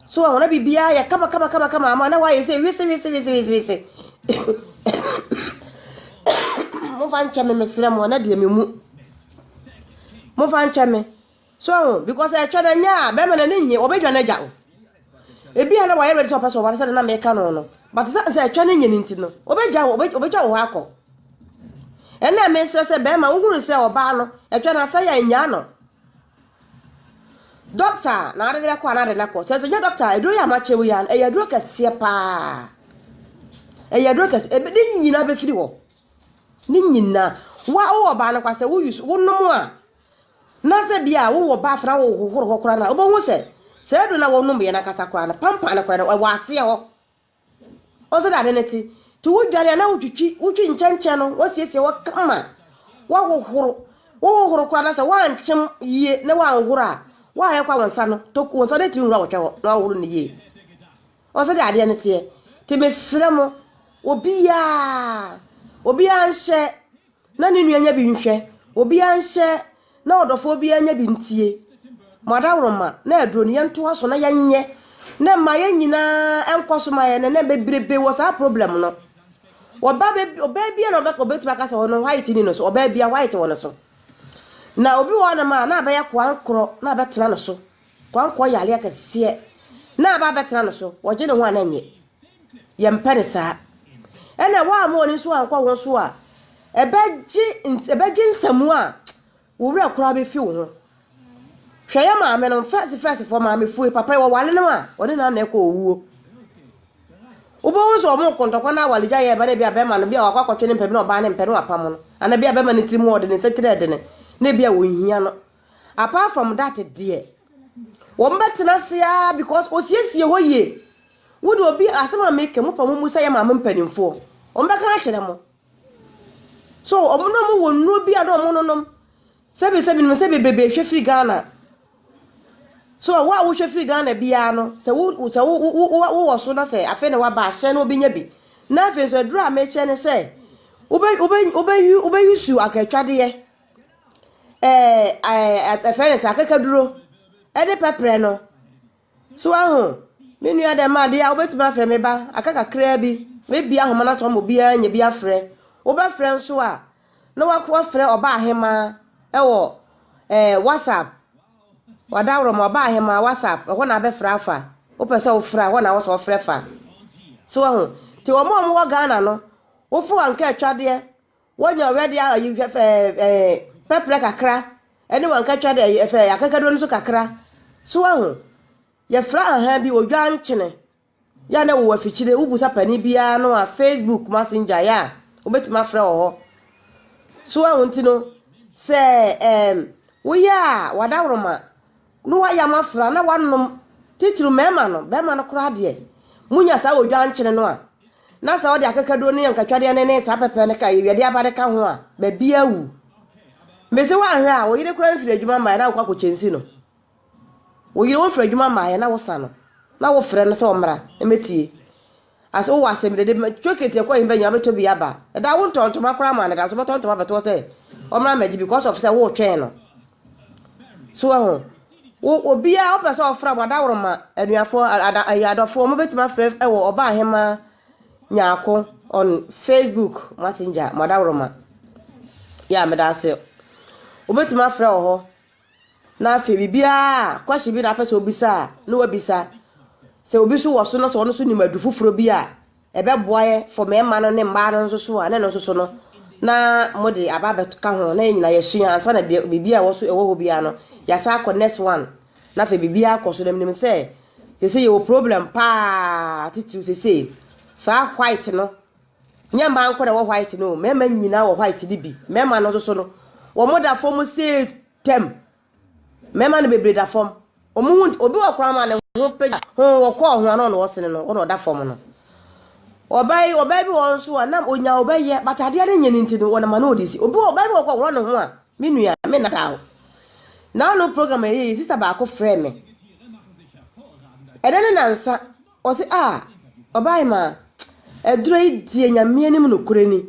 So wɔn na biribiara yɛ kama kama kama kama ama na wɔayɛ sɛ wese wese wese wese wese. Momfa nkyɛ me mesrɛ mo na deɛ me mu. Momfa nkyɛ me. So ho because ɛtwa na nya a bɛrima na ne nye wɔbɛdwa no agya o ebi a na wɔayɛ ready sɛ ɔpɛ sɛ ɔware sɛ na meka no no but sɛ sɛ ɛtwa ne nye no nti no wɔbɛgya wo wɔbɛtwa wo hɔ akɔ ɛnna mesrɛ sɛ bɛrima wohunu sɛ ɔbaa no ɛtwa no asɛ yɛ nyaa no dɔkta na ade no bɛkɔ a na ade no akɔ sɛ nso nyɛ dɔkta a aduro yɛ amakyɛ wo yi a ɛyɛ aduro kɛseɛ paa ɛyɛ aduro kɛseɛ ebe ne nyinaa bɛfiri hɔ ne nyinaa wa wowɔ ɔbaa no kwa sɛ woyi so wonom a Na sɛ bi a wowɔ bath na wohohoro hɔ koraa no a, wobɛhu sɛ saa aduro no a wɔnomyɛ no ankasa koraa no, pampan no koraa no, ɛwɔ aseɛ hɔ. Ɔsɛ dɛ ade no te. Nti wodware a na wotwitwi, wotwi nkyɛnkyɛn no, wasiesie hɔ kama, wahohoro. Wohohoro koraa na sɛ woankyem yie na woanhoro a, woayɛ kwa wo nsa no, tok, wo nsa no atumi nwura wɔtwɛ hɔ na wahohoro no yie. Ɔsɛ dɛ adeɛ no teɛ. Nti mesrɛ mo, obiara, obiara nhyɛ Na ne nua nyɛ bi nhwɛ, obiara nhyɛ, na ɔdɔfoɔ biara nyɛ bi ntie. Mo adaworoma, na aduro no, yɛntoa so na yɛnyɛ, na mma yɛn nyinaa nkɔ so ma yɛn nnɛ, na bebrebe wɔ saa problem no. Ɔba bɛ, ɔbaa biara na ɔbɛka, ɔbɛtumi aka sɛ ɔno white ni no so, ɔbaa biara white wɔ no so. Na obi wɔ hɔ nom a, na abɛyɛ koankorɔ, na abɛtena no so. Koankorɔ yɛ aleɛ kɛseɛ, na aba abɛtena no so, ɔgye ne ho a na ɛnyɛ. Yɛmpɛ no saa. Ɛna woamma w'ani nso ankɔ ho so a, ɛbɛgye ɛbɛgye nsɛm a wo werɛ koraa bɛfi wo ho. Hwɛ yɛ maame no, fɛs fɛs fɔ maame fue, papa yi wɔwale no a, ɔne na na ɛkɔ owuo. Wobɛhu sɛ wɔn kɔntɔkɔ na awaregya yɛ ɛbɛ na ebi a bɛrima no bi a wakɔ akɔtwe ne mpɛ bi na ɔbaa ne mpɛ no apam no. Ana bi a bɛrima no tirim hɔ ɔde ne nsa tiri ɛdene na ebi a wɔnhia no. Apart from that deɛ, wɔn bɛtena ase ara because ɔsiesie hɔ yie. Wo de obi asɛm a meka mu pɛ mo mu sɛ yɛ maame mpanimfoɔ wɔn bɛka akyerɛ mo so wɔn na wɔn wɔ nnuro bi a na wɔn nonom sɛbi sɛbi nim sɛ bebrebe ehwɛ firi Ghana so wo a wohwɛ firi Ghana biara no sɛ wo sɛ wo wo wo wɔ so na sɛ afei na waba ahyɛn na obi nya bi na afei nso aduro a mekyɛ ne sɛ wobɛ wobɛ wobɛyi wobɛyi su akatwadeɛ ɛɛ ɛɛ ɛfɛ ne sɛ akakaduro ɛne pɛprɛ no So woahu? Me nua, dɛm ade yi a, wobɛtumi afrɛ me ba, aka kakraa bi, mɛbue ahoma no ato ama obiara anya bi afrɛ. Wobɛfrɛ nso a, na woafrɛ Ɔbaahemaa wɔ eh, WhatsApp. Wadaworoma, Ɔbaahemaa, WhatsApp, ɛhɔ na abɛfrɛ afa. Wopɛ sɛ wofrɛ a, ɛhɔ na wɔsɛ wɔfrɛ fa. So woahu? Nti wɔn a wɔwɔ Ghana no, wofrɛ wɔn anka atwadeɛ, Wɔnya ɔwɛ de ayi hwɛ fɛ ɛɛ pɛprɛ kakra ne wɔn nkatwa de ɛyɛ fɛ akakaduro no so kakra. So wahu? Yɛfra ahan bi odwa nkyene. Yɛ na wowɔ afikyire wobusa panin biara no a Facebook messenger yɛ a wobɛtumi afrɛ wɔ hɔ. So wahu nti no sɛ ɛɛm woyɛ a wadaworoma No wayam afra na wanom titiriw mmarima no. Barima no koraa deɛ, munya saa wɔ dwankyene no a, na sɛ ɔde akakaduro ne nkatwadeɛ no ne saa pɛpɛ no ka Ewɛde aba no ka ho a, baabi awu. Mese woanhwɛ a, wo yere koraa mfiri adwuma mmaeɛ na wokɔ akɔkyɛ nsi no. Wo yere womfiri adwuma mmaeɛ na wosa no, na wofrɛ no sɛ ɔmmra mmɛtie. Ase wowɔ asɛm dede ma chocolate ɛkɔ ɛhe bɛnya wobɛtɔ bi aba ɛda wo ntɔ ntoma koraa ma no da so bɛtɔ ntoma bɛtoɔ sɛ ɔmmra mmɛgye bi because of sɛ wotwɛn no so ɛho wo obiara wopɛ sɛ ɔfra mo adaworo ma anuafoɔ ada ɛyɛ adɔfoɔ mo bɛtumi afrɛ ɛwɔ ɔbaa ahema nyaako on facebook messenger mo adaworo ma yɛ a meda ase wobɛtumi afrɛ wɔ hɔ Na afei biribiara a, question bi na apɛ sɛ obisa a, na wabisa. Sɛ obi nso wɔ so na sɛ ɔno nso nim adu foforɔ bi a, ɛbɛboa yɛ for mmarima no ne mmaa no nso so a, na ɛno nso so no, na mode aba abɛka ho, na yɛn nyinaa yɛasua ansa na deɛ biribi a ɛwɔ so ɛwɔ hɔ biara no, yɛasan akɔ next one. Na afei biribiara akɔ so, na menim sɛ sese yɛwɔ problem paa titiriw sese saa white no, Nyɛ mmaa nko na ɛwɔ white no o, mmarima nyinaa wɔ white no bi. Mmarima no nso so no, wɔda fam sɛ tam. Mmarima no bebree da fam. Wɔn ho nti, obi wɔ koraa ma ne ho pagya, ho wɔkɔɔ ho ano na wɔsene no, wɔn na ɔda fam no. Ɔbaa yi, ɔbaa bi wɔ hɔ nso a, na onya ɔbaa yɛ, but adeɛ no nyɛ ne nti no, wɔnam ano ɔde si. Obi wɔ, ɔbaa bi wɔ kɔ wɔn ne ho a, me nua, me nna da o. N'ano program ɛyɛ yi, sista baako frɛ me. Ɛdɛ ne nansa. Ɔse ah Ɔbaahemaa, aduro yi deɛ Nyame anim nokorɛ ni,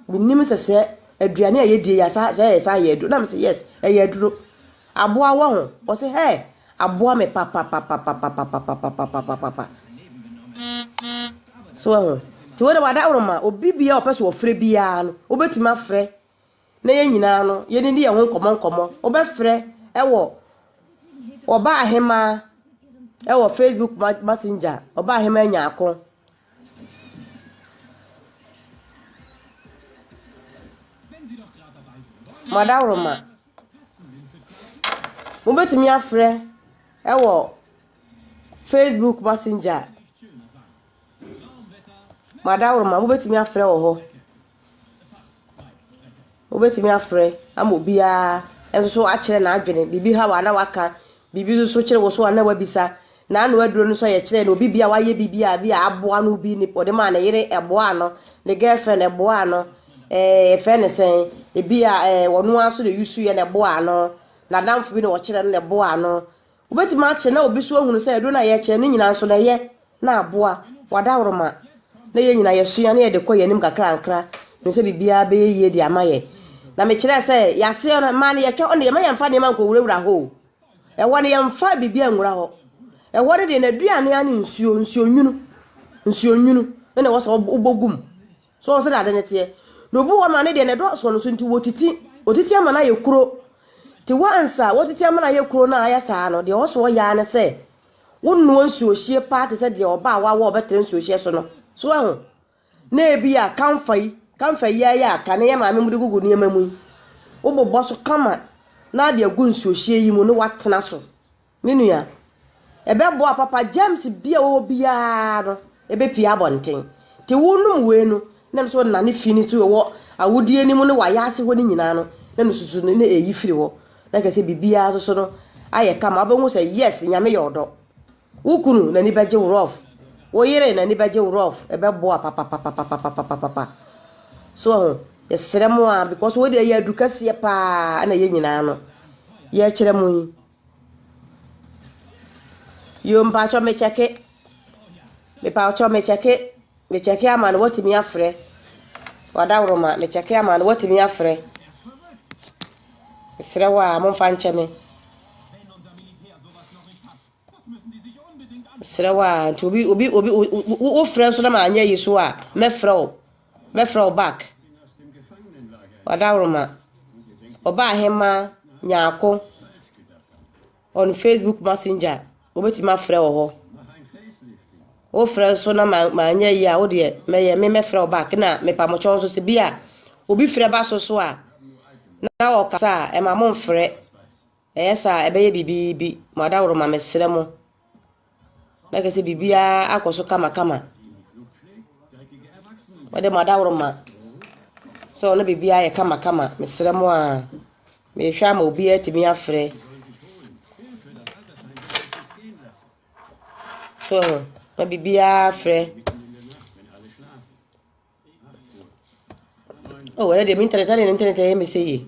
mennim sɛ sɛ aduane a yɛdie yi asa sɛ ɛyɛ saa yɛ aduro, na mese yes ɛyɛ aduro, aboa wɔ ho? Ɔse hɛ, aboa me papapapapapapapapapapapa, so wahu, nti wode w'adaworoma, obi biara ɔpɛ sɛ ɔfrɛ biara no, wobɛtumi afrɛ na yɛn nyinaa no yɛdidi yɛn ho nkɔmmɔ nkɔmmɔ. Wobɛfrɛ wɔ Ɔba Ahemaa wɔ Facebook Messenger, Ɔba Ahemaa Nyaako. Madaworoma. Wobɛtumi afrɛ wɔ Facebook Messenger, Madaworoma, wobɛtumi afrɛ wɔ hɔ. Wobɛtumi afrɛ ama obiara nso akyerɛ n'adwene, biribi haw a na waka, biribi nso kyere wo so a na wabisa. N'ano aduro no nso yɛkyerɛɛ no, obi bi a wayɛ biribi a bi a aboa no bi ne ɔde maa ne yere ɛboaa no, ne girlfriend ɛboaa no, ɛɛ yɛfrɛ no sɛn, ebi a ɛɛ ɔno ara nso na use yɛ na ɛboaa no, n'adamfo bi na ɔkyerɛɛ no na ɛboaa no. Wobɛtumi akyerɛ na obi nso ahunu sɛ aduro no a yɛrekyerɛ no nyinaa nso na ɛyɛ na aboa w'adaworoma na yɛn nyinaa yɛsua na yɛde kɔ yɛn anim kakrankra nim sɛ biribiara bɛyɛ yie de ama yɛn. Na mekyerɛɛ sɛ yɛaseɛ no mmaa no yɛtwa hɔ no deɛ ma yɛmfa nneɛma nkɔwurawura hɔ o. Ɛhɔ no yɛmfa biribiara nwura hɔ. Ɛhɔ no deɛ n'aduane ara ne nsuo, nsuo nwunu, nsuo nwunu na na ɛwɔ sɛ wobɔ gu mu. So ɔho sɛdeɛ ade no teɛ? Na obi wɔ hɔ ma ne deɛ no ɛdɔ soɔ no so nti wɔtiti wɔtiti ama no ayɛ kuro nti once a wɔtiti ama no ayɛ kuro no a ayɛ saa no deɛ ɔso ɔyɛ ara ne sɛ wonoa nsuohyie paa te sɛ deɛ ɔba a wawo a ɔbɛtrɛ nsuohyie so no so ahu na ebi a kamfa yi kamfa yi ayɛ aka ne yɛ maame mu de gugu nneɛma mu yi wobobɔ so kama na ade agu nsuohyie yi mu ne watena so Me nua, ɛbɛboa papa, germs bi a wɔwɔ biara no, ɛbɛpie abɔnten. Te wonom wei no, na nso nane fi no so wɔ awodie no mu ne wayɛ ase hɔ no nyinaa no, na nususu no na ɛyi firi hɔ. Na kɛsɛ biribiara nso so no ayɛ kama, wobɛhu sɛ yes, nyame yɛ ɔdɔ. Wo kunu n'ani bɛgye wo rough, wo yere n'ani bɛgye wo rough, ɛbɛboa papapapapapapapapa. So ho, yɛsrɛ mo a, because wei deɛ ɛyɛ adu kɛseɛ paa na yɛn nyinaa no yɛkyerɛ mo yi. Yoo, mpatsɔ mekyɛke, mepatsɔ mekyɛke, mekyɛke ama no watumi afrɛ, Ɔdawuruma mekyɛke ama no watumi afrɛ. Mesrɛ wo a momfa nkyɛ me. Mesrɛ wo a nti obi obi obi wofrɛ nso na manyɛ ayi so a mɛfrɛ wo Mɛfrɛ wo back Ɔdawroma Ɔbaahema Nyarko on Facebook Messenger wobɛtumi afrɛ wɔ hɔ wofrɛ nso na manyɛ yi a wo deɛ mɛyɛ me mɛfrɛ wo back na mepamokyɛw nso sɛ bi a obi frɛ ba so so a na ɔkasa a ɛma mo mfrɛ Ɛyɛ saa a, ɛbɛyɛ biribi. Moadaworoma, mesrɛ mo, na kyerɛ sɛ biribiara akɔ so kamakama. Wɔde moadaworoma sɛ ɔno biribiara yɛ kamakama, mesrɛ mo a, mehwɛ ama obiara atumi afrɛ. So, na biribiara frɛ. Oh, ɛyɛ deɛ me internet ɛna ne internet ɛyɛ me sɛ yie.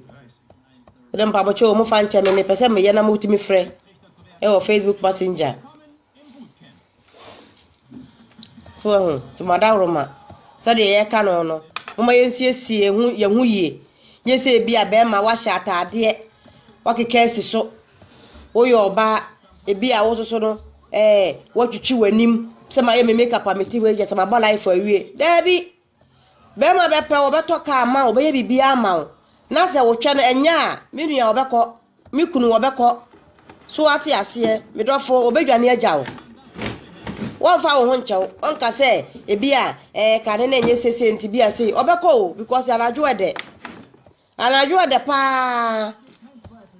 Wode mpabokyɛ wɔ mu fa nkyɛ me mepɛ sɛ meyɛ na motumi frɛ ɛwɔ Facebook Messenger. So ɛho tomadaworo ma sɛdeɛ yɛka no no moma yɛnsiesie ho yɛn ho yie. Nyɛ sɛ ebi a bɛrima wahyɛ ataadeɛ wakeka asi so Woyɛ ɔbaa, ebia wo nso so no, ɛɛ woatwitwi w'anim sɛ mayɛ me makeup a mete hɔ yi kyɛ sɛ mabɔ life awie. Daabi! Bɛrima bɛpɛ wo, ɔbɛtɔ kaa ma wo, ɔbɛyɛ biribiara ama wo. Na sɛ wotwɛ no ɛnyɛ a, me nua ɔbɛkɔ, me kunu ɔbɛkɔ. So woate aseɛ? Me dɔfo, ɔbɛdwane agya wo. Wɔmfa wo ho nkyɛ wo. Ɔnka sɛ ebia ɛɛ kane no ɛnyɛ sese nti bia sei. Ɔbɛkɔ o because anadwo ɛdɛ. Anadwo ɛdɛ paa.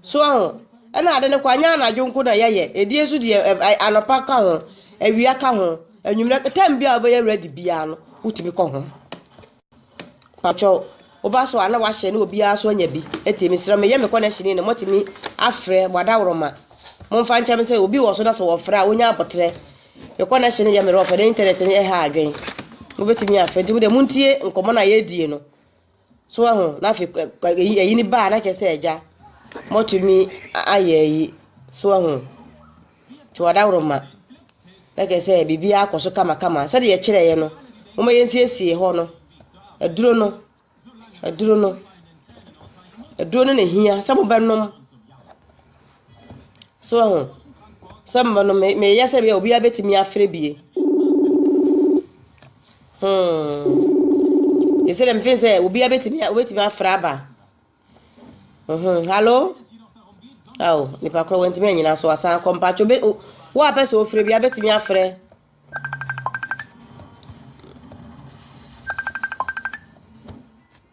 So ahu? Ɛna ade no kɔ anyɛ anadwo nko na yɛyɛ. Ɛdie nso deɛ anɔpa ka ho, awia ka ho, anwummerɛ, tam biara wobɛyɛ ready biara no, wotumi kɔ ho. Pakyɛ woba so a na wahyɛ ne obiara so anya bi. Ɛti mesrɛ meyɛ me connection no motumi afrɛ mo adaworoma. Momfa nkyɛ me sɛ obi wɔ so na sɛ wɔfrɛ a wonya abotrɛ. Me connection no yɛ me rough na internet no ɛha adwen. Mobɛtumi afrɛ nti mo deɛ montie nkɔmmɔ no a yɛdie no. So wahu? Na afei kɔ- kɔ- eyi eyi ne ba a na kyerɛ sɛ agya mɔtumi a- ayɛ ayi. So wahu? Nti wadaworo ma. Na kyerɛ sɛ biribiara kɔ so kamakama. Sɛdeɛ yɛkyerɛeɛ no, momma yɛnsiesie hɔ no. Aduro no, aduro no, aduro no na ɛhia sɛ mobɛnom. So woahu? Sɛ mmɛ no, me meyɛ sɛ bia obiara bɛtumi afrɛ bie. Hmm. Ɛsɛ dɛ mfe sɛ obiara bɛtumi obɛtumi afrɛ aba. Mhm. Hello? Ao, nipa korɔ wantumi anyina so asan akɔ mpatwo bɛ wo a pɛ sɛ ofrɛ bia bɛtumi afrɛ.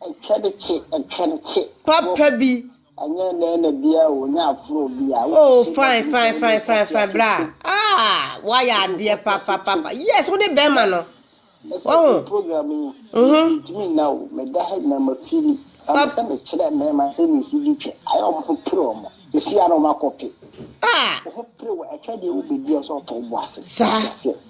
Ɛnkyɛrekye, ɛnkyɛrekye. Papa bi. Ɛnyɛ ɛnɛ na
bia o, nyɛ afro bia. Oh, fine, fine,
fine, fine, fine, bra. Ah, why are there, papa, papa? Yes, what the Burma no? Oh, program yi.
Mhm. Ntimi na o, me da ha na ma fili. Papa sɛ me kyerɛ me ma sɛ me si bi twɛ. Ayɛ ɔmo ho pere ɔmo. Esi ara ɔmo akɔpe. Ah. Ɔmo pere wɔ ɛtwa deɛ wo bedi ɔsɛ ɔtɔ bo ase. Sa.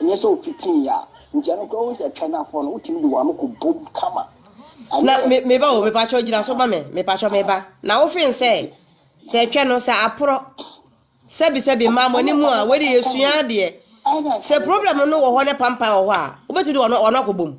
Ɛnyɛ sɛ ɔfitii yɛ a nti ɛno koraa wohu sɛ ɛtwɛn afoɔ no wotumi de w'ano kɔ bom kama. Na
me me ba o me pakyɛ gyina so ma me me pakyɛ me ba na wofen sɛ sɛ ɛtwɛ no sɛ aporɔ sɛbi sɛbi mmaa mo ani mu a wɔde yɛ sua adeɛ sɛ problem no wɔ hɔ ne pampan wɔ hɔ a wobɛtumi de wɔn wɔn akɔ bom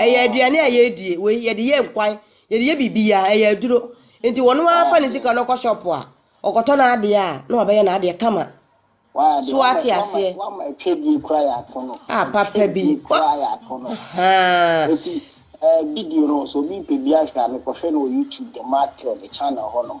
Ɛyɛ aduane a yɛdie, wei yɛde yɛ nkwan, yɛde yɛ biribiara, ɛyɛ aduro. Nti wɔn ara fa ne sika no kɔ shop a, ɔkɔtɔ n'adeɛ a, na wabɛyɛ n'adeɛ kama. So wate aseɛ?
A papa bi. Haa. Video no, sɛ obi pɛ bi ahwɛ a, mekɔhwɛ no wɔ YouTube, The Mad Cure, ne channel hɔnom.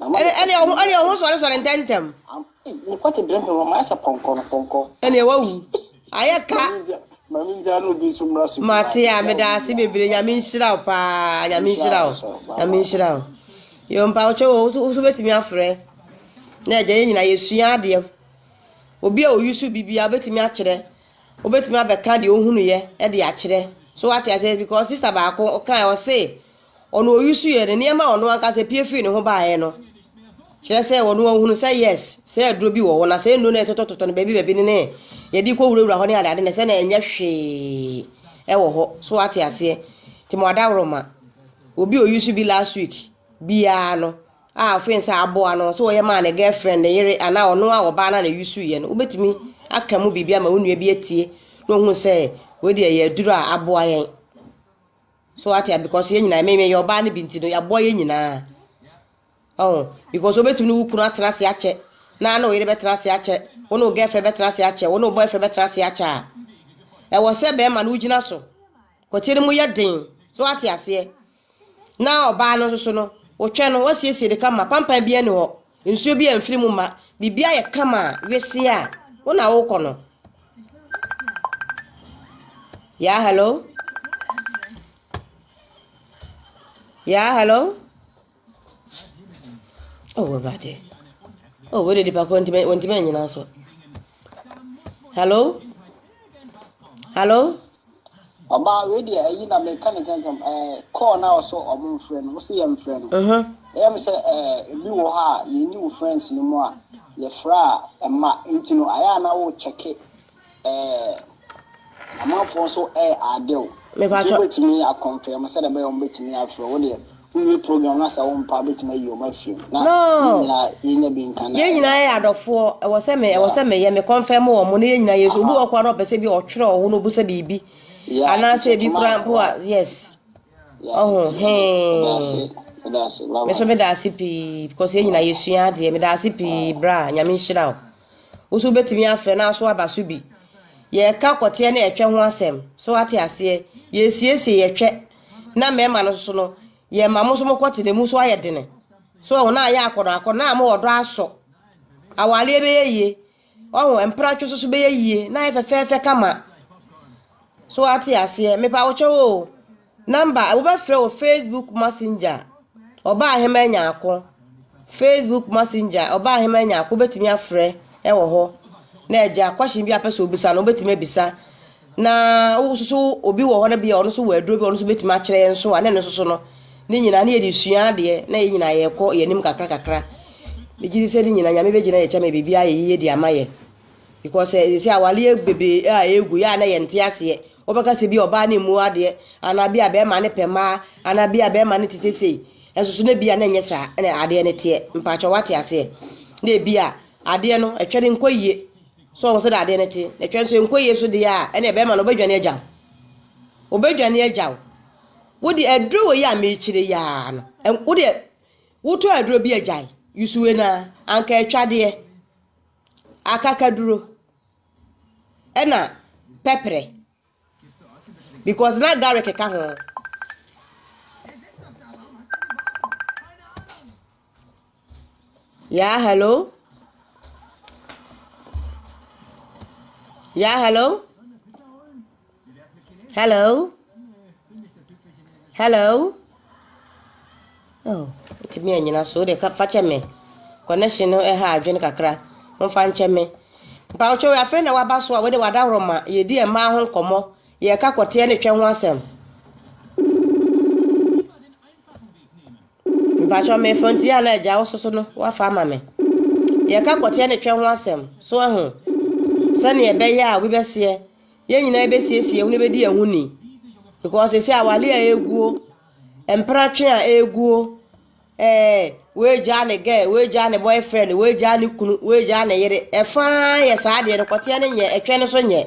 Ɛnneɛ ɔho ɛnneɛ ɔho sɔresɔre ntɛntɛm. Mekɔte
bere he wɔ mayɛ sɛ pɔnkɔ no pɔnkɔ. Ɛnneɛ wawu
ayɛ ka. Maame ngyaa
no obi nso mmra so. Mate a meda ase
bebree nyame nhyira wo paa nyame nhyira wo nyame nhyira wo yo mpa wo kyɛw wo so betumi afrɛ na agya yɛ nyina yɛsua adeɛ obi a oyi so bibia obetumi akyerɛ obetumi abɛka deɛ ohunu yɛ ɛde akyerɛ so wate aseɛ because sister baako ɔka ɔse ɔno ɔusu yɛ no nneɛma a ɔno ankasa pie firi ne ho baeɛ no kyerɛ sɛ ɔno ahunu sɛ yes sɛ aduro bi wɔ hɔ na sɛ nnuro no ɛtotɔtotɔ no baabi baabi no ne yɛde kɔwurawura hɔ ne adeade na sɛ na ɛnyɛ hwee ɛwɔ hɔ so ate aseɛ nti mo adaworoma obi ɔusu bi last week biara no a ɔfee sɛ aboa no sɛ ɔyɛ maa ne girlfriend ne yere anaa ɔno a ɔbaa no a na ɛusu yɛ no wobɛtumi aka mu biribi ama wo nua bi atie na ɔhunu sɛ wei deɛ yɛ aduro a aboa yɛn So wate a because yɛn nyinaa meyɛ ɔbaa no bi nti no yɛaboa yɛn nyinaa ɔho because wobɛtumi ne wo kunu atena ase akyɛ na ne oyere bɛtena ase akyɛ wo ne wo girlfriend bɛtena ase akyɛ wo ne wo boyfriend bɛtena ase akyɛ a ɛwɔ sɛ bɛrima no wogyina so kwati no mu yɛ den so wate aseɛ na ɔbaa no nso so no wotwɛ no wasiesie de kama pampan bi ani hɔ nsuo bi amfiri mu ma biribi ayɛ kama a weseɛ a wo na wokɔ no Yeah, hello? Yeah, hello? Oh, Awurade. Oh, wei de nipa koro ntumi ntumi nnyina so. Hello? Hello?
Ɔbaa wei deɛ ayi na meka ne kankan ɛɛ call na ɔsɔ ɔmo mfrɛ no ɔsɛ yɛn mfrɛ no. Mhm. Ɛyɛ mi sɛ ɛɛ ebi wɔ hɔ a yɛn ni wɔ friends no mu a yɛfrɛ a ɛma nti no ayɛ a na wo check ɛɛ amanfoɔ nso ɛɛ ade o. Mepa kyɛw. Nti wobɛtumi
akɔnfɛm
sɛdeɛ ɛbɛyɛ ɔmo bɛtumi afrɛ wo deɛ Wowie program na sɛ wo mpa betumi ayi wɔn afiri mu. Na yɛn nyinaa yɛnya bi nka na. Yɛn nyinaa yɛ adɔfoɔ.
Ɛwɔ sɛ me ɛwɔ sɛ meyɛ me kɔnfɛm wɔn mo ne yɛn nyinaa yɛ so. Obi wɔ kora na ɔpɛ sɛ bi ɔtwerɛ ɔho na ɔbusa biribi. Anaasɛ bi kora mpo a yes. Ɔho hee. Me so meda ase pii because yɛn nyinaa yɛsua adeɛ. Meda ase pii bra nyame nhyira wo. Wo so wobɛtumi afrɛ na aso aba so bi. Yɛka kɔteɛ ne ɛtwɛ ho asɛm. So ate aseɛ. Yɛsiesie yɛtwɛ na mmarima no nso no yɛ ma mo nso mo kɔ te na emu nso ayɛ dene so ɔho na ayɛ akɔnɔ akɔ na mo ɔdɔ asɔ awareɛ bɛyɛ yie ɔho mpratwe nso so bɛyɛ yie na ayɛ fɛfɛɛfɛ kama so ate aseɛ mepa wo kyɛw o namba wobɛfrɛ wɔ facebook messenger ɔbaa hema anya ako Facebook Messenger, ɔbaa hemaa nyɛako bɛtumi afrɛ wɔ hɔ na agya question bi a pɛ sɛ obisa no wobɛtumi abisa na wo nso obi wɔ hɔ no bia ɔno nso wɔ aduro bi ɔno nso bɛtumi akyerɛ yɛn nso a na ɛno nso so no ne nyinaa ne yɛde sua adeɛ na yɛn nyinaa yɛkɔ yɛn anim kakra kakra megye di sɛ ne nyinaa nyame bɛgyina yɛ kyɛma biribi ayɛ yie de ama yɛ because ɛsɛ sɛ awaleɛ bebree a ɛgu yɛ a na yɛnte aseɛ Wobɛka sɛ ebia ɔbaa no mmu adeɛ, anaa ebia bɛrima no pɛ mmaa, anaa ebia bɛrima no te seesei. Nanso so na ebia na ɛnyɛ saa na adeɛ no teɛ? Mpakyɛw wate aseɛ? Na ebia adeɛ no ɛtwɛ no nkɔ yie. So wɔn sɛ na adeɛ no te? Na ɛtwɛ nso nkɔ yie nso deɛ a, ɛnna ɛbɛrima no ɔbɛdwane agya wo. Ɔbɛdwane agya wo. Wode aduro wɔ yi a mekyerɛ yi ara no, wode wotɔ aduro bi agyae, yusuwe no ara, anka ɛtwadeɛ, akakaduro. ɛna pɛprɛ because na garlic ka ho. Yeah, hello. Yeah, hello. Hello? Hello? Oh, ɛtumi anyina so wode fa kyɛ me connection no ɛha adwene kakra momfa nkyɛ me mpawotwe wɔ afei na waba so a wode wadaworo ma yɛdi mmaa ho nkɔmmɔ yɛka kɔteɛ ne twɛ ho asɛm mpatwɛ mefo nti a na agya wo soso no wafa ama me yɛka kɔteɛ ne twɛ ho asɛm so ahu sɛneɛ ɛbɛyɛ a wobɛseɛ yɛn nyinaa bɛsiesie yɛn ho na yɛbɛdi yɛn ho ni because sɛsɛ awale a ɛguo mpratwe a ɛguo ɛɛ wɔagyaa ne gɛ wɔagyaa ne boyfriend wɔagyaa ne kunu wɔagyaa ne yere ɛfaa yɛ saa deɛ no kɔteɛ no nyɛ ɛtwɛ no so nyɛ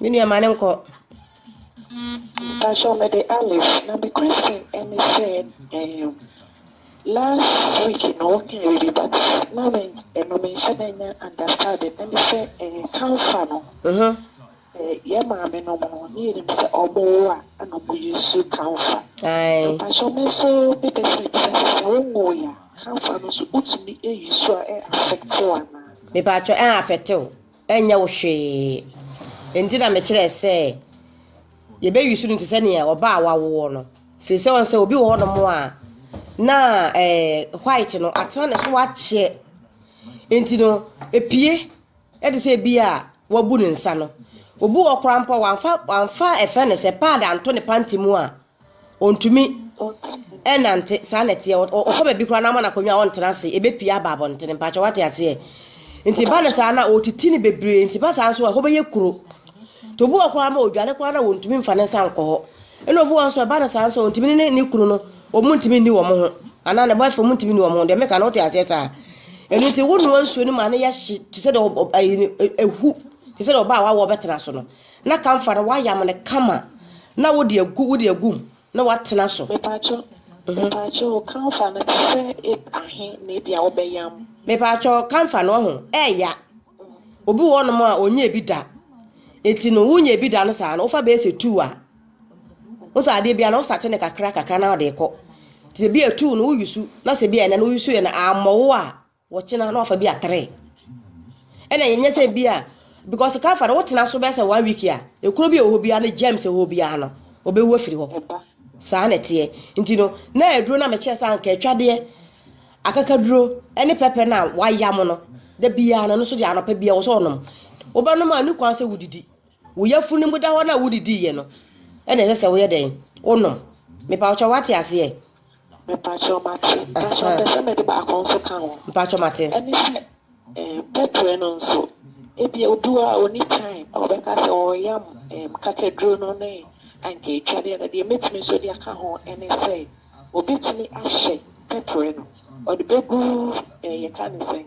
Me nua ma no nkɔ. Mpakyɛw
mede Alice na me question ɛne sɛ ehm last week no wo kae biribi but na me ɛno me nhyɛ da nya understanding ɛne sɛ eh camphor no sɛ yɛ maame nom no ne yɛnim sɛ ɔmo wo a ɛna ɔmo use camphor mpakyɛw
me nso
me pɛ sɛ me bisa sɛ sɛ wo nwoo yɛ a camphor no nso wo tumi use a ɛ affect wo anaa. Mepakyɛw ɛ
affect wo. Ɛnyɛ wo hwee. Enti na mekyerɛɛ sɛ yɛbɛyusu no te sɛ nea ɔbaa a wawoɔ no. Firi sɛ ɔn sɛ obi wɔ hɔnom a na ɛɛ white no atena ne so akyɛ. Enti no epie ɛde sɛ ebi a wabu ne nsa no. Obi wɔ koraa mpo a wamfa wamfa ɛfɛ ne sɛ pad anto ne panty mu a Ɔntumi nnante, saa na ɛteɛ. Ɔkɔ baabi koraa na ama no akonnwa a ɔntena ase, ɛbɛpie aba abɔntene. Mpakyɛ wate aseɛ? Nti ba no saa na ɔtiti no bebree, nti ba saa nso a, hɔ bɛyɛ kuro. Nti obi wɔ koraa ma ɔdwane koraa na ɔntumi mfa ne nsa nkɔ hɔ. Ɛna obi wɔ nso a, ɛba no saa nso a, ɔntumi ne ne kunu no, wɔn ntumi nni wɔn ho. Anaa ne boyfriend, wɔn ntumi nni wɔn ho. Deɛ meka no, wote aseɛ saa? Ɛno nti, wonoa nsuo no ma no yɛ hye, te sɛ deɛ ɛhu, te sɛ deɛ ɔbaa a wawo a ɔbɛtena so no. Na ka mfa no, woayam no kama na wode agu wode agu mu na woatena so. Mepaakyɛw,
mepaakyɛw o, kamfa no te sɛ eb ahe na ebia wobɛyam? Mepaakyɛw, kamfa
no ɔho, ɛɛya. Obi wɔ hɔnom a ɔnyɛ ebi da. Eti no, wonya ebi da no saa no, wofa bɛyɛ sɛ tuu a, wo sɛ adeɛ bia no wosate no kakra kakra na ɔde kɔ. Sɛ bi a tuu no woyi su, na sɛ bi a ɛnɛ no woyi su yɛ no ammɔ wo a, Wɔkyena na wafa bi a three. Ɛna yɛnyɛ sɛ bi a because ka fa no wotena so bɛsɛ one week a ekuro bi a ɛwɔ biara no germs ɛwɔ biara no ɔbɛwu afiri hɔ saa na ɛteɛ nti no na aduro na mekyɛ sɛ anka atwadeɛ akakaduro ne pɛpɛ no a wayam no da biara no no so deɛ anɔpa biara wɔ sɛ ɔnom wobɛnom a ne kwan sɛ wodidi wo yɛfu no mu da hɔ no a wodidiiɛ no ɛna ɛsɛ sɛ woyɛ dɛn wonom mepa wokyɛ wate aseɛ Mepakyɛw
mate. Nanso mepɛ sɛ mede baako nso ka ho. Mepakyɛw mate. Ɛne
sɛ,
ɛɛm, bɛbrɛ no nso. Ebia obi wɔ hɔ a onni time a ɔbɛka sɛ ɔreyam, ɛɛm, kakaduro no ne anka etwa deɛ no. Deɛ mɛtumi nso de aka ho ne sɛ, obɛtumi ahyɛ pɛprɛ no. Ɔde bɛgu, ɛɛ, yɛka ne sɛn?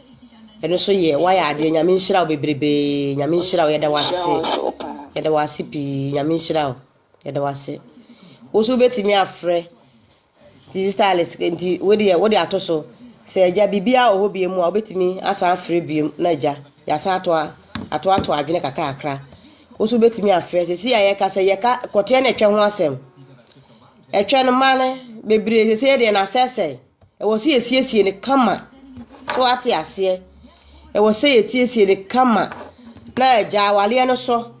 Ɛno nso yɛ wayɛ adeɛ nyame nhyira wo bebrebee nyame nhyira wo yɛda wase yɛda wase pii nyame nhyira wo yɛda wase wo nso wobɛtumi afrɛ nti stylist nti wode wode ato so sɛ agya biribiara wɔ hɔ bie mu a wobɛtumi asan afrɛ biem na agya yɛasan ato ato ato adwene kakra kakra wo nso wobɛtumi afrɛ sɛ si a yɛka sɛ yɛka kɔteɛ na ɛtwɛ ho asɛm ɛtwɛ no ma no bebree sɛ sɛ deɛ na asɛsɛe Ɛwɔ sɛ yɛsiesie no kama. So wate aseɛ? Ɛwɔ sɛ yɛsiesie no kama na agya awareɛ no so.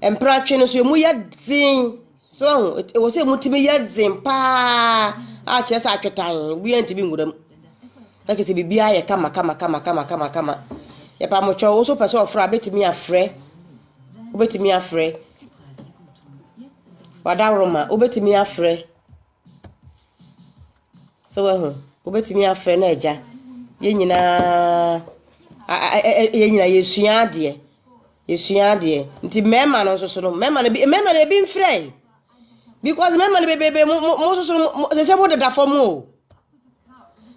Mpratwe no so emu yɛ dzen. So ahu, ɛwɔ sɛ emu tumi yɛ dzen paa a kyerɛ sɛ atwetan obiara ntumi nwura mu. Na kyerɛ sɛ biribiara yɛ kama kama kama kama kama kama. Yɛpa mo kyɛw, wo so pɛ sɛ ɔfrɛ a, wobɛtumi afrɛ. Wobɛtumi afrɛ. Wadaworoma, wobɛtumi afrɛ. So woahu? Wobɛtumi afrɛ no agya. Yɛn nyinaa yɛn nyinaa yɛsua adeɛ. Yɛsua adeɛ. Nti mmarima no nso so no, mmarima no bi mmarima no ebi mfrɛ yi. Because mmarima no bebrebe mo mo mo nso so no mo sɛ mo deda fam o.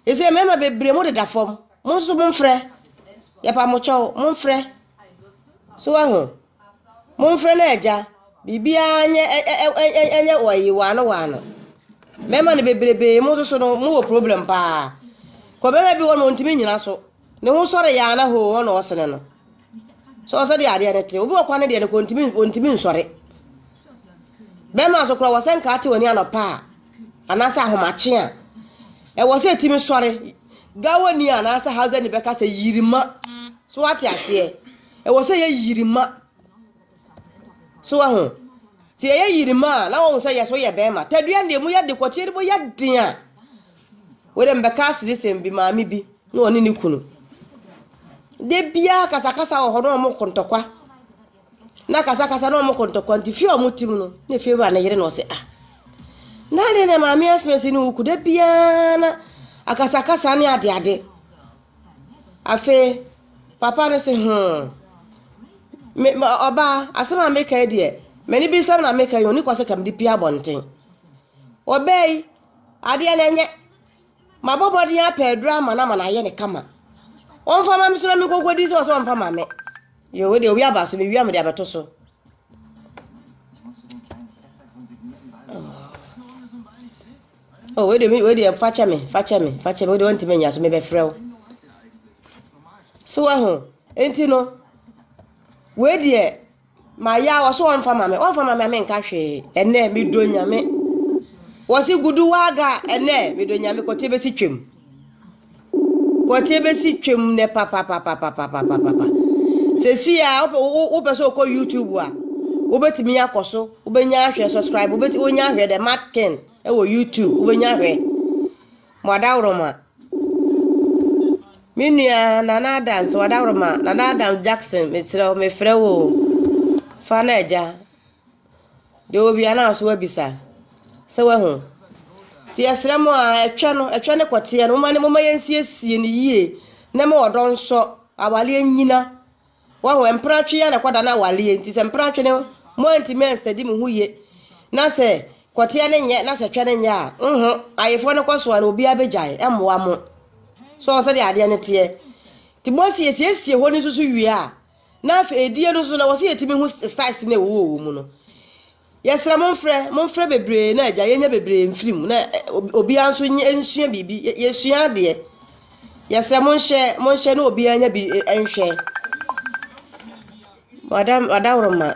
Ɛsɛ mmarima bebree mo deda fam. Mo nso so mo mfrɛ. Yɛpa mo kyɛw, mo mfrɛ. So woahu? Momfrɛ no Agya. Biribiara nyɛ ɛ ɛ ɛ ɛ nyɛ ɔyi waano waano. Mmarima no bebrebe mo nso so no mo wɔ problem paa. Kɔ barima bi hɔ no ɔntumi nyina so. Ne ho sɔre yaa na hoo wɔn na ɔsene no. So ɔsɛ deɛ adeɛ no te. Obi wɔ kwan no deɛ no kɔ ntumi ɔntumi nsɔre. Barima nso kora wɔ sɛ nka ate w'ani anɔpa a anaasɛ ahomakye a ɛwɔ sɛ ɛtumi sɔre. Gawani anaasɛ hausani bɛka sɛ yirima. So wate aseɛ. Ɛwɔ sɛ yɛ yirima. So waho? Sɛ yɛyɛ yirima a, na wɔn sɛ yɛ so yɛ bɛrima. Tadua deɛ mu yɛ de kɔteɛ de mu yɛ den a. Wɔde mbɛka asirisɛm bi maame bi na ɔne ne kunu. De biara kasakasa wɔ hɔ na wɔn kontɔkwa. Na kasakasa na wɔn kontɔkwa nti fie a wɔn tim no na efie wura ne yere na ɔsɛ ah. Na adeɛ na maame asomasi ne wuku de biara na akasakasa ne adeade. Afei, papa no se, Hoo! Me, ɔbaa, asɛm a meka yi deɛ, m'ani bi nsɛm na meka yi, ɔni kwa sɛ ka mede pie abɔnten. Ɔbaa yi, adeɛ no ɛnyɛ. Mabɔ mmɔden apɛ aduro ama no ama no ayɛ ne kama. Ɔmfa ma me so na menkɔnkɔdi sɛ ɔsɛ ɔmfa ma me. Yɛ wei deɛ, owi aba so, mewia mede abɛto so. Oh, wei deɛ wei deɛ fakyɛ me fakyɛ me fakyɛ me wei deɛ wɔntumi nya so mebɛfrɛ wo so aho nti no wei deɛ maya wɔ so wɔmfa ma me wɔmfa ma me a menka hwee ɛnɛ medɔ nyame wɔ se gudu waaga ɛnɛ medɔ nyame kɔte bɛsi twam Kwɔtse besi twa mu nnɛ papapapapapapapa. Sesei a wopɛ wo wopɛ sɛ wokɔ YouTube a, wobɛtumi akɔ so, wobɛnya ahwɛ subscribe, wobɛtumi wonya ahwɛ dɛ Matt Ken wɔ YouTube, wobɛnya ahwɛ. Mo adaworoma. Me nua Nana Adams, mo adaworoma. Nana Adams Jackson, mesrɛ wo, mefrɛ wo o. Fa no agya. Deɛ obia no aso abisa sɛ wahu nti yɛsrɛ mo a ɛtwɛ no ɛtwɛ ne kɔteɛ no moma ne moma yɛnsiesie no yie na ma ɔdɔ nsɔ awaleɛ nyina wahu mpratwe yɛ na ɛkɔda no awaleɛ nti sɛ mpratwe no mo antimi anstadi mo ho yie na sɛ kɔteɛ no nyɛ na sɛ twɛ no nyɛ a nho ayefoɔ no kɔ so a na obiara bɛgyae ɛmmoa mo so sɛdeɛ adeɛ no teɛ nti mo asiesie hɔ no nso so wie a Na afei edie no nso na wɔsɛ yɛtumi hu styles no a ɛwɔ wɔ mu no. Yɛsrɛ mo mfrɛ, mo mfrɛ bebree na agya yɛnya bebree mfiri mu na obiara nso nsua biribi, yɛsua adeɛ. Yɛsrɛ mo nhyɛ, mo nhyɛ na obiara nya bi nhwɛ. Madam, adaworoma.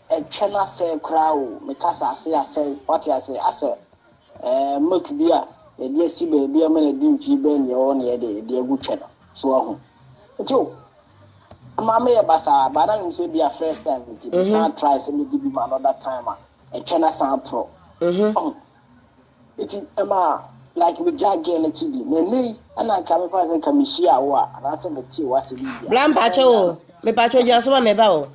Ɛtwɛn asɛe koraa o, me kasa ase asɛe, wate aseɛ, asɛ ɛɛ milk bi a yɛde asi baabi ama no adi mfie bɛn deɛ ɔwɔ na yɛde de agu twɛ no, so wahu? Nti o, ɛma meyɛ basaa, but na menim sɛ ebi a first time nti, mesan try sɛ mɛdi bi ma another time a, ɛtwɛn asan aporɔ, wahu? Enti ɛmaa like megyaa girl no akyi di. Na nnɛ yi na anka mepɛ ase nka mehyiaa wo a anaasɛ metee wo ase biribi a. Bra mpakyɛ o,
mepakyɛ gyina so ma meba o.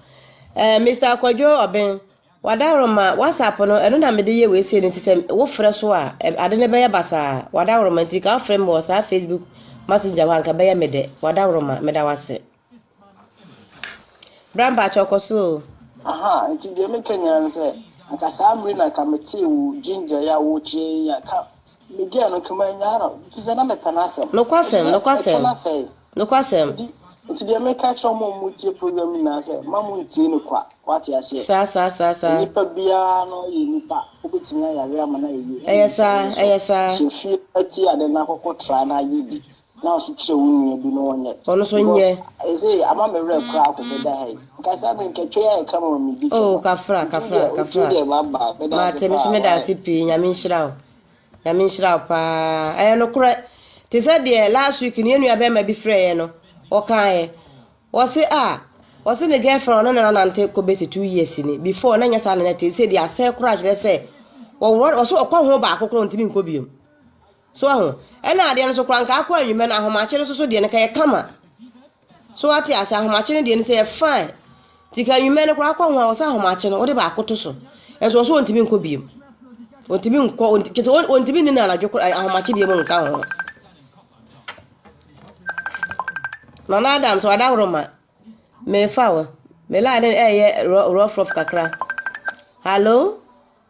Eh, Mister Akwadwo Ɔben, w'adaworo ma, WhatsApp no, ɛno na mede yɛ wei sei no nti sɛ wofrɛ so a, ade no bɛyɛ basaa. W'adaworo ma nti, nka wofrɛ me wɔ saa Facebook Messenger hɔ a, nka ɛbɛyɛ me dɛ. W'adaworo ma, meda wo ase. Bra mpakyɛw kɔ so o. Aha nti deɛ
meka nyinaa ne sɛ anka saa mmere na anka metee wo ginger yi a wokyerɛ yi a ka media no nka manya no fi sɛ na mepɛ no asɛm nokwasɛm nokwasɛm
nokwasɛm nti nti deɛ meka
kyerɛ mo mo tie program nyinaa sɛ ma mo ntie no kwa wate aseɛ saa saa saa saa nipa
biara
no yɛ nipa wobɛtumi ayare ama no ayɛ ɛyɛ saa ɛyɛ saa
hyɛ fie
atie ade no akɔkɔ tra no ayɛ di Na ɔse kyerɛ wo nua bi na ɔnyɛ. Ɔno so nyɛ. Because
ɛyɛ sɛ ama me werɛ
koraa akɔ bɛda ha yi. Nka saa bere nka twɛ a ɛka ma me di twɛ. Oh kafra
kafra kafra. Nti deɛ baba meda ase paa. Mate me so meda ase pii nyame nhyira wo. Nyame nhyira wo paa. Ɛyɛ nokorɛ. Te sɛ deɛ last week no yɛn nua bɛrima bi frɛ yɛn no ɔkaeɛ. Ɔse a ɔse ne girlfriend ɔne ne nanante kɔ bɛsi two years ni before na nyɛ saa na na te sɛ deɛ asɛe koraa kyerɛ sɛ ɔwɔ ɔse ɔkɔ ho baako koraa ɔntumi nkɔ biom. So wahu? Ɛna adeɛ no so koraa nka akɔ anwummerɛ no ahomakye no so so deɛ no ka yɛ kama. So wate ase ahomakye no deɛ no sɛ yɛ fine. Ti ka anwummerɛ no koraa akɔ ho a wɔsɛ ahomakye no wode baako to so. Ɛnso wɔsɛ wɔntumi nkɔ biem. Wɔntumi nkɔ kyɛ sɛ wɔntumi nni na anadwo koraa ahomakye deɛ mu nka ho. Nana Adam so ada horo ma mefa wo. Me line no ɛyɛ rough rough kakra. Hello?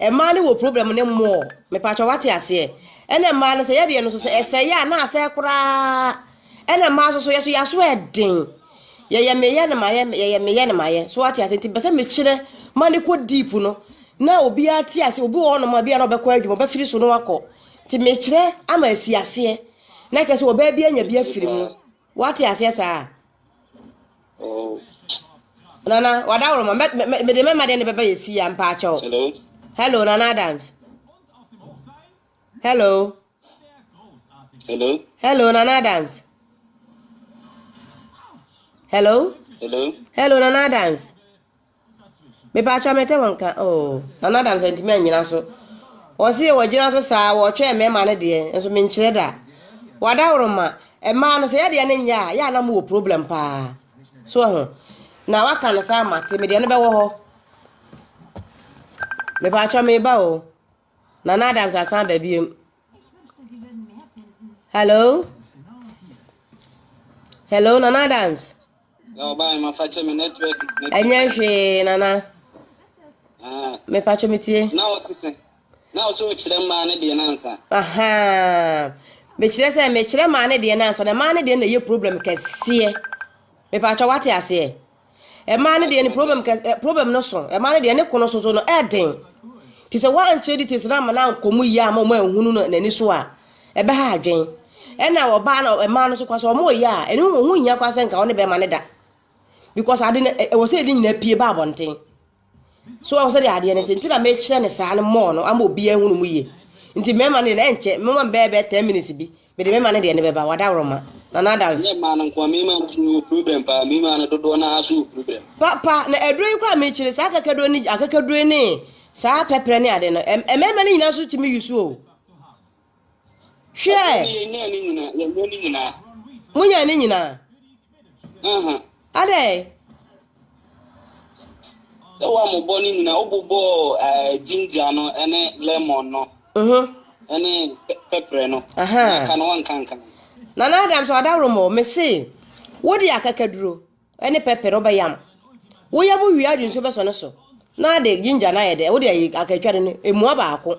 Mmaa no wɔ problem ne more. Mepatwɔ wate aseɛ. Ɛna mmaa no sɛ yɛdeɛ no so sɛ ɛsɛeɛ a na asɛe koraa. Ɛna mmaa so so yɛ so yɛaso ɛden. Yɛyɛ meyɛ no mayɛ yɛyɛ meyɛ no mayɛ. So wate aseɛ nti bɛsɛ mekyerɛ ma ne kɔ deep no. Na obiara te aseɛ obi wɔ hɔnom a bi a na ɔbɛkɔ adwuma ɔbɛfiri so no akɔ. Nti mekyerɛ ama asi aseɛ. Na kɛ sɛ ɔbaa bi anya bi afiri mu. Wate aseɛ saa? Oh. Nana, wada woro ma. Mede mɛma deɛ ne bɛba yɛ si ya mpa akyɛw. Hello. Hello, Nana Adams. Hello. Hello. Hello, Nana Adams. Hello. Hello. Hello, Nana Adams. Mepa akyɛw mɛtɛ wɔn ka oo. Oh. Nana Adams antumi anyina so. Wɔse wɔgyina so saa wɔtwɛn mmarima no deɛ nso menkyerɛ da. Wadaworoma, mmaa no sɛ yɛdeɛ no nyɛ a, yɛ a na mowɔ problem paa. So ho. Na waka no saa mate, medeɛ no bɛwɔ hɔ. Mepa akyɛw meba oo. Nana Adams asan ba biom. Hello? Hello, Nana Adams?
Ɛnyɛ hwee,
Nana. Ah. Mepatwo metie. Na wo sesɛ.
Na wo sɛ wokyerɛ mmaa ne deɛ nansa. Aha.
Mekyerɛ sɛ mekyerɛ mmaa ne deɛ nansa na mmaa ne deɛ na ɛyɛ problem kɛseɛ. Mepatwo wate aseɛ. Mmaa no deɛ ne problem kɛse eh, problem no so mmaa no deɛ ne kono soso no ɛɛden te sɛ wɔankyɛ di te sɛ ama no ankɔ mu yie ama wɔn ahunu no n'ani so a ɛbɛha adwen ɛna ɔbaa no mmaa no so kwa sɛ wɔn ɔyɛ a ɛne wɔn ho hia kwa sɛ nka wɔn ne bɛrima no da because ade no ɛwɔ sɛ ɛde nyinaa pie ba abɔnten. so wahu sɛdeɛ adeɛ no nti nti na mekyerɛ ne saa no mɔɔ no ama obiara hunu mu yie nti mmarima no deɛ na ɛnkyɛ mema mbɛɛ bɛɛ ten minutes bi mede mema no deɛ no bɛba wadaworoma na nadance nyɛ mmaa no nkoa mmarima
no tumi wɔ problem paa mmarima no dodoɔ no ara so wɔ problem papa na aduro
yi koraa mekyerɛ saa akakaduro ne akakaduro ne saa pɛprɛ ne ade no mmarima no nyinaa so tumi yusu o Hwɛ! Monyaa ne nyinaa? Adɛn?
Sɛ wɔammobɔ ne nyinaa, wobobɔɔ ginger no ne lemon no ne pɛprɛ no, na aka no wɔnkanka. Nana Adams
ɔdaworo mɔ, mese wode akakaduro ne pɛprɛ wobɛyam. Woyam wie adi nso bɛsɔ ne so na de ginger no ayɛ dɛ, wode akatwa no no, ɛmua baako.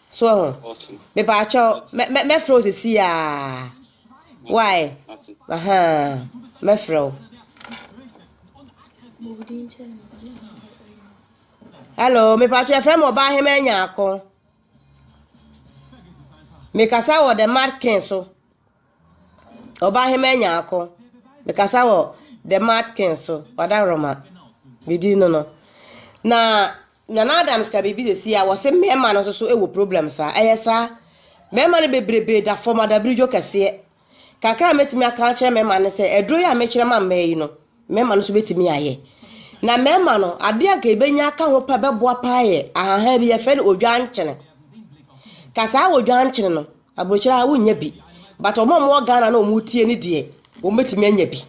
so ho mepaakyɛw mɛfrɛ wo sisi a why aha mɛfrɛ wo hello mepaakyɛw yɛfrɛ me ɔbaa hema nyaako mekasa wɔ the markin so ɔbaa hema nyaako mekasa wɔ the markin so ɔda roma bidi no no na Nana Adams ka biribi sɛsi a wɔse mmarima no nso wɔ problem saa. Ɛyɛ saa. Mmarima no bebrebe da fam adabridwo kɛseɛ. Kakra a mɛtumi aka akyerɛ mmarima no sɛ aduro yi a mekyerɛ ma mmaa yi no, mmarima no nso bɛtumi ayɛ. Na mmarima no, adeɛ anka ɛbɛnya aka ho pɛ bɛboa paa yɛ ahahan bi yɛfɛ no odwankyene. Ka saa odwankyene no, Aburokyire a wonnya bi but wɔn a wɔwɔ Ghana na wɔretie no deɛ wɔbɛtumi anya bi.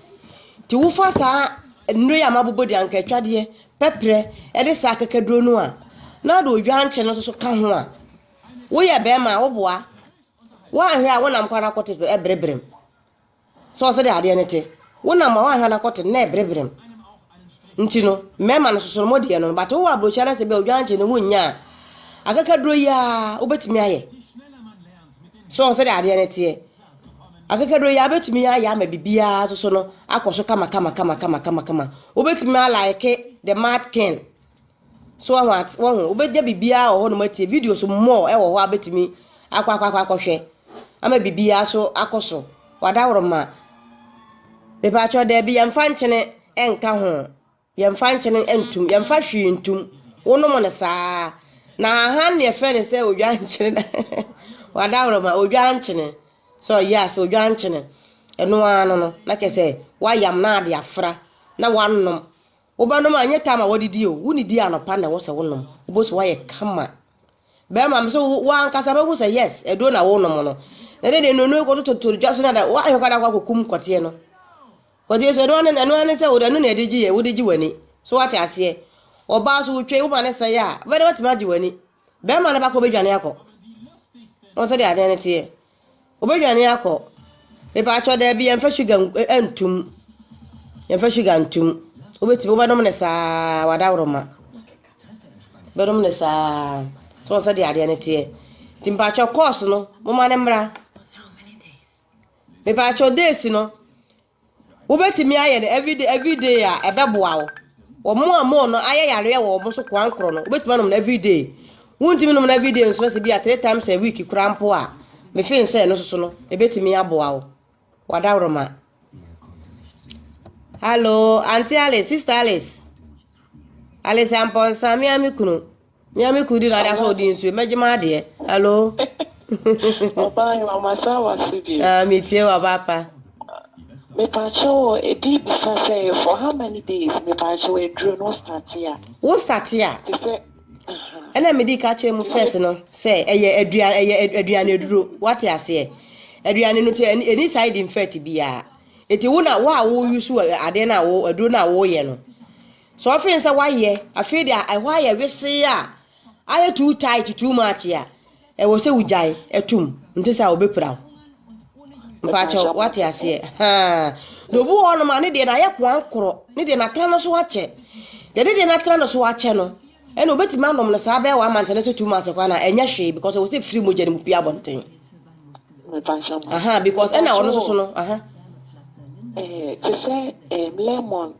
Nti wofa saa nnuro yi a mabobɔ din, ankaatwadeɛ, pɛprɛ ɛne saa akakaduro no a na wode odwankye no nso ka ho a, woyɛ bɛrima a woboa. Woanhwɛ a wonam kwan no akɔte so ɛbrebrem. So sɛdeɛ adeɛ no te, wonam a woanhwɛ no akɔto no na ɛbereberem. Nti no, mmarima no soso no mo deɛ no, but wowɔ aburokyerɛ no sɛ bi a odwan kye no wonnya a, akakaduro yi ara wobɛtumi ayɛ. So sɛdeɛ adeɛ no teɛ, akakaduro yi ara bɛtumi ayɛ ama biribiara soso no akɔ so kama kama kama kama kama kama. Wobɛtumi alaeke the mad king. So wahu ate wahu wobɛgya biribiara wɔ hɔnom atie videos mmɔɔ ɛwɔ hɔ abɛtumi akɔ akɔ akɔ akɔhwɛ ama biribiara so akɔ so wadaworo ma bɛbaakyɛ ɔda bi yɛmfa nkyene ɛnka ho yɛmfa nkyene ɛntum yɛmfa hwee ntum wonom no saa na ahan ne ɛfɛ ne sɛ odwa nkyene na wadaworo ma odwa nkyene sɛ ɔyɛ ase odwa nkyene ɛno ano no na kɛsɛ wayam na ade afra na wanom Wobɛnom a, ɛnyɛ taa ma wɔde di o, wonidi anɔpa na ɛwɔ sɛ wonom, wobɛhu sɛ woayɛ kama. Bɛrima me sɛ wo ankasa bɛhu sɛ yes, aduro na wonom no. Na ɛde deɛ nnuro kɔtototɔ dwa so na da, woahwɛ kɔ da kɔ akɔkum kɔteɛ no. Kɔteɛ so, ɛno ne ɛno ne sɛ wode ɛno na ɛde gye yɛ, wode gye w'ani. So wate aseɛ? Ɔbaa so wotwei woma ne sɛe a, wobɛdɛ watumi agye w'ani. Bɛrima no ba kɔ bɛdwane akɔ. Wɔn sɛ deɛ adeɛ no teɛ. Wɔbɛdwane akɔ. Mepaakyɛ daabi yɛmfa sugar ntum. Yɛmfa sugar ntum. Wobɛtumi wobɛnom no saa wadaworoma. Bɛnom no saa. So wɔn sɛ deɛ adeɛ no teɛ. Nti mepaakyɛ course no moma no mmra. Mepaakyɛ days no. Wobɛtumi ayɛ no everyday everyday a ɛbɛboa wo. Wɔn a wɔn no ayɛ yareɛ wɔ wɔn so koankorɔ no, wobɛtumi anom no everyday. Wontumi nom no everyday nso na sɛ bi a three times a week koraa mpo a, mefeel sɛ ɛno soso no, ɛbɛtumi aboa wo. Wadaworoma. Hello, Auntie Alice, Sister Alice. Alice Ampɔnsa, me a me kunu. Mia me kudi na ada so di nsu meje ma de. Hello. Oba
yo amasa wasi bi. Ah me tie wa papa. Me pa cho e di bisa se for how many
days me
pa cho e dro no statia. Wo statia. Ti
se ɛna me di ka kyerɛ mu first no sɛ ɛyɛ aduan ɛyɛ aduan aduro wate aseɛ aduan no ti ɛni side effect biara eti wo na wo a wo yusu adeɛ na wo aduro na wo yɛ no Sɛ ɔfe no sɛ wayɛ, afei deɛ ɛhɔ ayɛ wesee a, ayɛ too tight, too much a, ɛwɔ sɛ wogyae ɛtum, nte sɛ a ɔbɛpira wo. Mpakyɛ wate aseɛ. Haa. Na obi wɔ hɔnom a ne deɛ no ayɛ koankorɔ, ne deɛ no atena no so akyɛ. Deɛ ne deɛ no atena no so akyɛ no, ɛna obɛtumi anom no saa bɛyɛ one month ne to two months kɔ na ɛnyɛ hwee because ɛwɔ sɛ firi mogya no mu pie abɔnten. Aha, because ɛna ɔno soso no. Aha. Eh,
te sɛ eh, lemon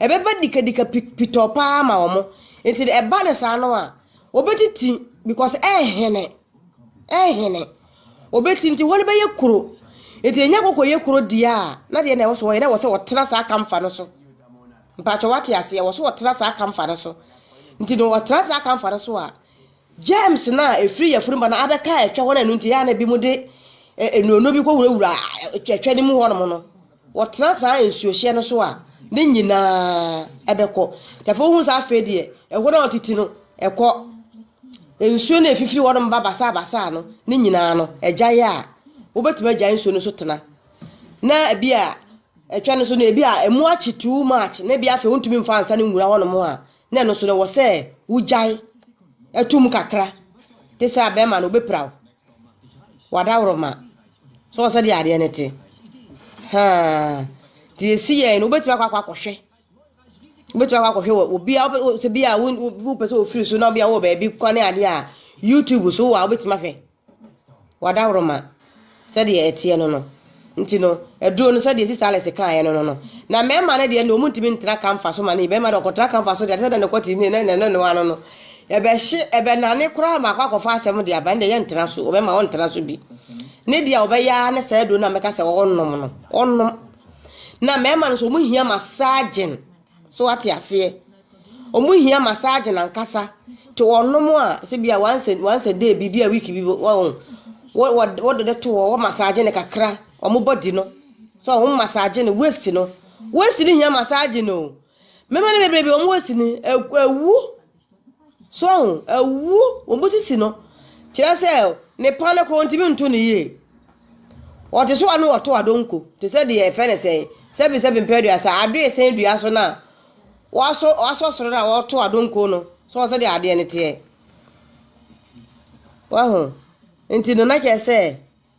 Ɛbɛba dikadika pi pitɔɔ paa ama wɔn. Nti no ɛba no saa no a, wɔbɛtiti because ɛrehene. Ɛrehene. Wɔbɛti nti wɔn bɛyɛ kuro. Nti ɛnya kɔkɔ yɛ kuro deɛ a, na deɛ na ɛwɔ so wɔyɛ na ɛwɔ sɛ wɔtena saa kamfa no so. Mpakyɛ wate aseɛ, ɛwɔ so wɔtena saa kamfa no so. Nti no wɔtena saa kamfa no so a, germs no a ɛfiri yafunu ba no abɛka ɛtwa hɔ no ɛno nti ɛyɛ a na ebi mo de nnuonuo bi kɔwurawura ɛtwa no mu hɔnom no. Wɔtena saa nsuohyeɛ no so a, ne nyina ara bɛkɔ. Nti afei wohu sɛ afei deɛ ɛhɔ no a wɔtete no ɛkɔ. Nsuo no a ɛfifiri hɔ nom ba basaa basaa no, ne nyina ara no ɛgyae a, wobɛtumi agyae nsuo no so tena. Na ebi a ɛtwa no so no, ebi a ɛmu akye too much, na ebi afei wontumi mfa ansa no nwura hɔ nom a, na ɛno nso no ɛwɔ sɛ wogyae to mu kakra. Te sɛ abɛɛma no, wobɛpira wo. W'adaworoma, so wɔ sɛdeɛ adeɛ no te? Haa, deɛ ɛsi yɛn no, wobɛtumi akɔ akɔ akɔhwɛ. Wobɛtumi akɔ akɔhwɛ wɔ obi a wopɛ sɛ bi a wopɛ sɛ ofiri so na bi a wɔ baabi kwan ne adeɛ a YouTube so wɔ a wobɛtumi ahwɛ. W'adaworoma, sɛdeɛ ɛteɛ no no. Nti no, aduro no, sɛdeɛ Sista Alice kaeɛ no no no, na mmarima no deɛ na wɔn ntumi ntra kamfa so ma no yɛ, barima deɛ ɔkɔtra kamfa so deɛ, ɛte sɛ deɛ nɔkɔte ne ne ne no ano no, ɛbɛhye, ɛbɛnane koraa ma akɔ akɔfa asɛm de aba, ɛnde ɛyɛ ntra so, wɔbɛma wɔntra so bi. Ne deɛ wɔbɛyɛ ara ne saa aduro no a mɛka sɛ ɔnnom no, ɔnnom. Na mmarima no nso wɔn hia massaging. So wate aseɛ? Ɔmo hia massage nankasa. Te ɔnom a, sɛ bi a once a, once a day bi, bi a week bi, wɔn, wɔde no to hɔ, wɔ massage no kakra, ɔmo body no. So ɔmo massage no, waist no. Waist no hia massage no. Mmarima no bebrebe, ɔmo waist no, ɛwu. So ahu? Awu, wɔbusisi no. Kyerɛ sɛ, ne pa no koraa ɔntumi nto no yie. Ɔte so a na ɔto adonko, te sɛ deɛ ɛfɛ ne sɛn, sɛbesɛbe mpɛaduasa, adoe sɛn dua so no a, wasɔ wasɔ soro no a ɔto adonko no, so ɔsɛ deɛ adeɛ no teɛ. Wahu? Nti no, na kyerɛ sɛ,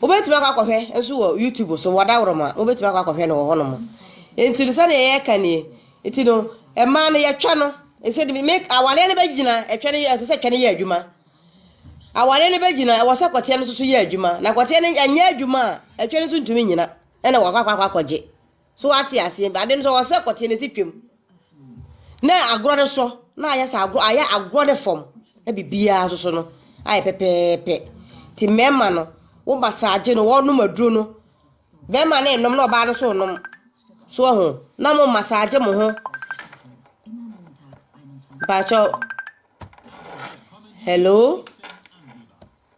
wobɛtumi akɔ akɔhwɛ nso wɔ youtube so wɔda worɔma wobɛtumi akɔ akɔhwɛ no wɔ hɔ nom nti no sɛdeɛ yɛka nie nti no ɛmaa no yɛtwa no ɛsɛ de me awareɛ no bɛgyina ɛtwa no ɛsɛ sɛ ɛtwa no yɛ adwuma awareɛ no bɛgyina ɛwɔ sɛ kɔteɛ no nso so yɛ adwuma na kɔteɛ no ɛnyɛ adwuma a ɛtwa no nso ntumi nyina ɛna wɔakɔ akɔ akɔgye so wate aseɛ ade no sɛ ɔsɛ kɔteɛ no si twam na agorɔ no so na ayɛ sɛ agorɔ ayɛ agorɔ no fam na biribiara soso no ayɛ pɛpɛɛpɛ ti mmarima no wo masaagye no wɔnom aduro no bɛrima no nom na ɔbaa no so nom so ho na mo masaagye mo ho baakyɛw hello.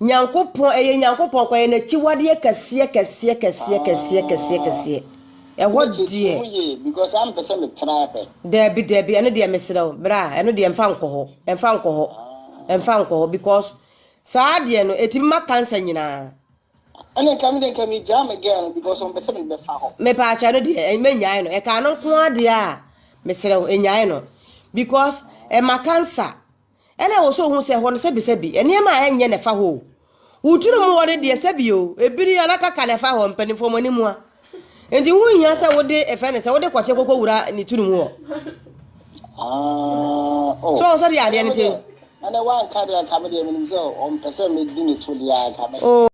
Nyankopɔn, ɛyɛ Nyankopɔn kwa, ɛyɛ N'akyiwadeɛ kɛseɛ, kɛseɛ, kɛseɛ, kɛseɛ, kɛseɛ, kɛseɛ. Ɛhɔ deɛ. Mekyekyee mu yie, because na mepɛ sɛ
metena hɛ. Daabi, daabi, ɛno
deɛ mesrɛ wo, bra, ɛno deɛ mfa nkɔ hɔ, mfa nkɔ hɔ, mfa nkɔ hɔ, because saa deɛ no, ɛtumi ma cancer nyinaa. Ɛne nka
me deɛ nka megyaa me girl no, because ɔmpɛ sɛ mede bɛfa hɔ. Mepaakyɛ ɛno deɛ, ɛn,
mɛnyae no, ɛka ɛno nko ara deɛ a, mesrɛ wo, nyae no, because ɛma cancer. Ɛna ɛwɔ sɛ ohu sɛ hɔ no sɛbisɛbi, nneɛma a ɛnyɛ na ɛfa hɔ o. Wo tirim hɔ no deɛ sɛbi o, ebiri anaa kaka na ɛfa hɔ, mpanimfoɔ mo ani mua. Nti ho hia sɛ wode ɛfɛ ne sɛ wode kɔkye kɔkɔ wura ne tirim hɔ. So ɔn sɛdeɛ adeɛ no te. Ɛnɛ wanka deɛ nka me deɛ menim sɛ ɔmpɛ
sɛ medi ne to deɛ anka me. Oh.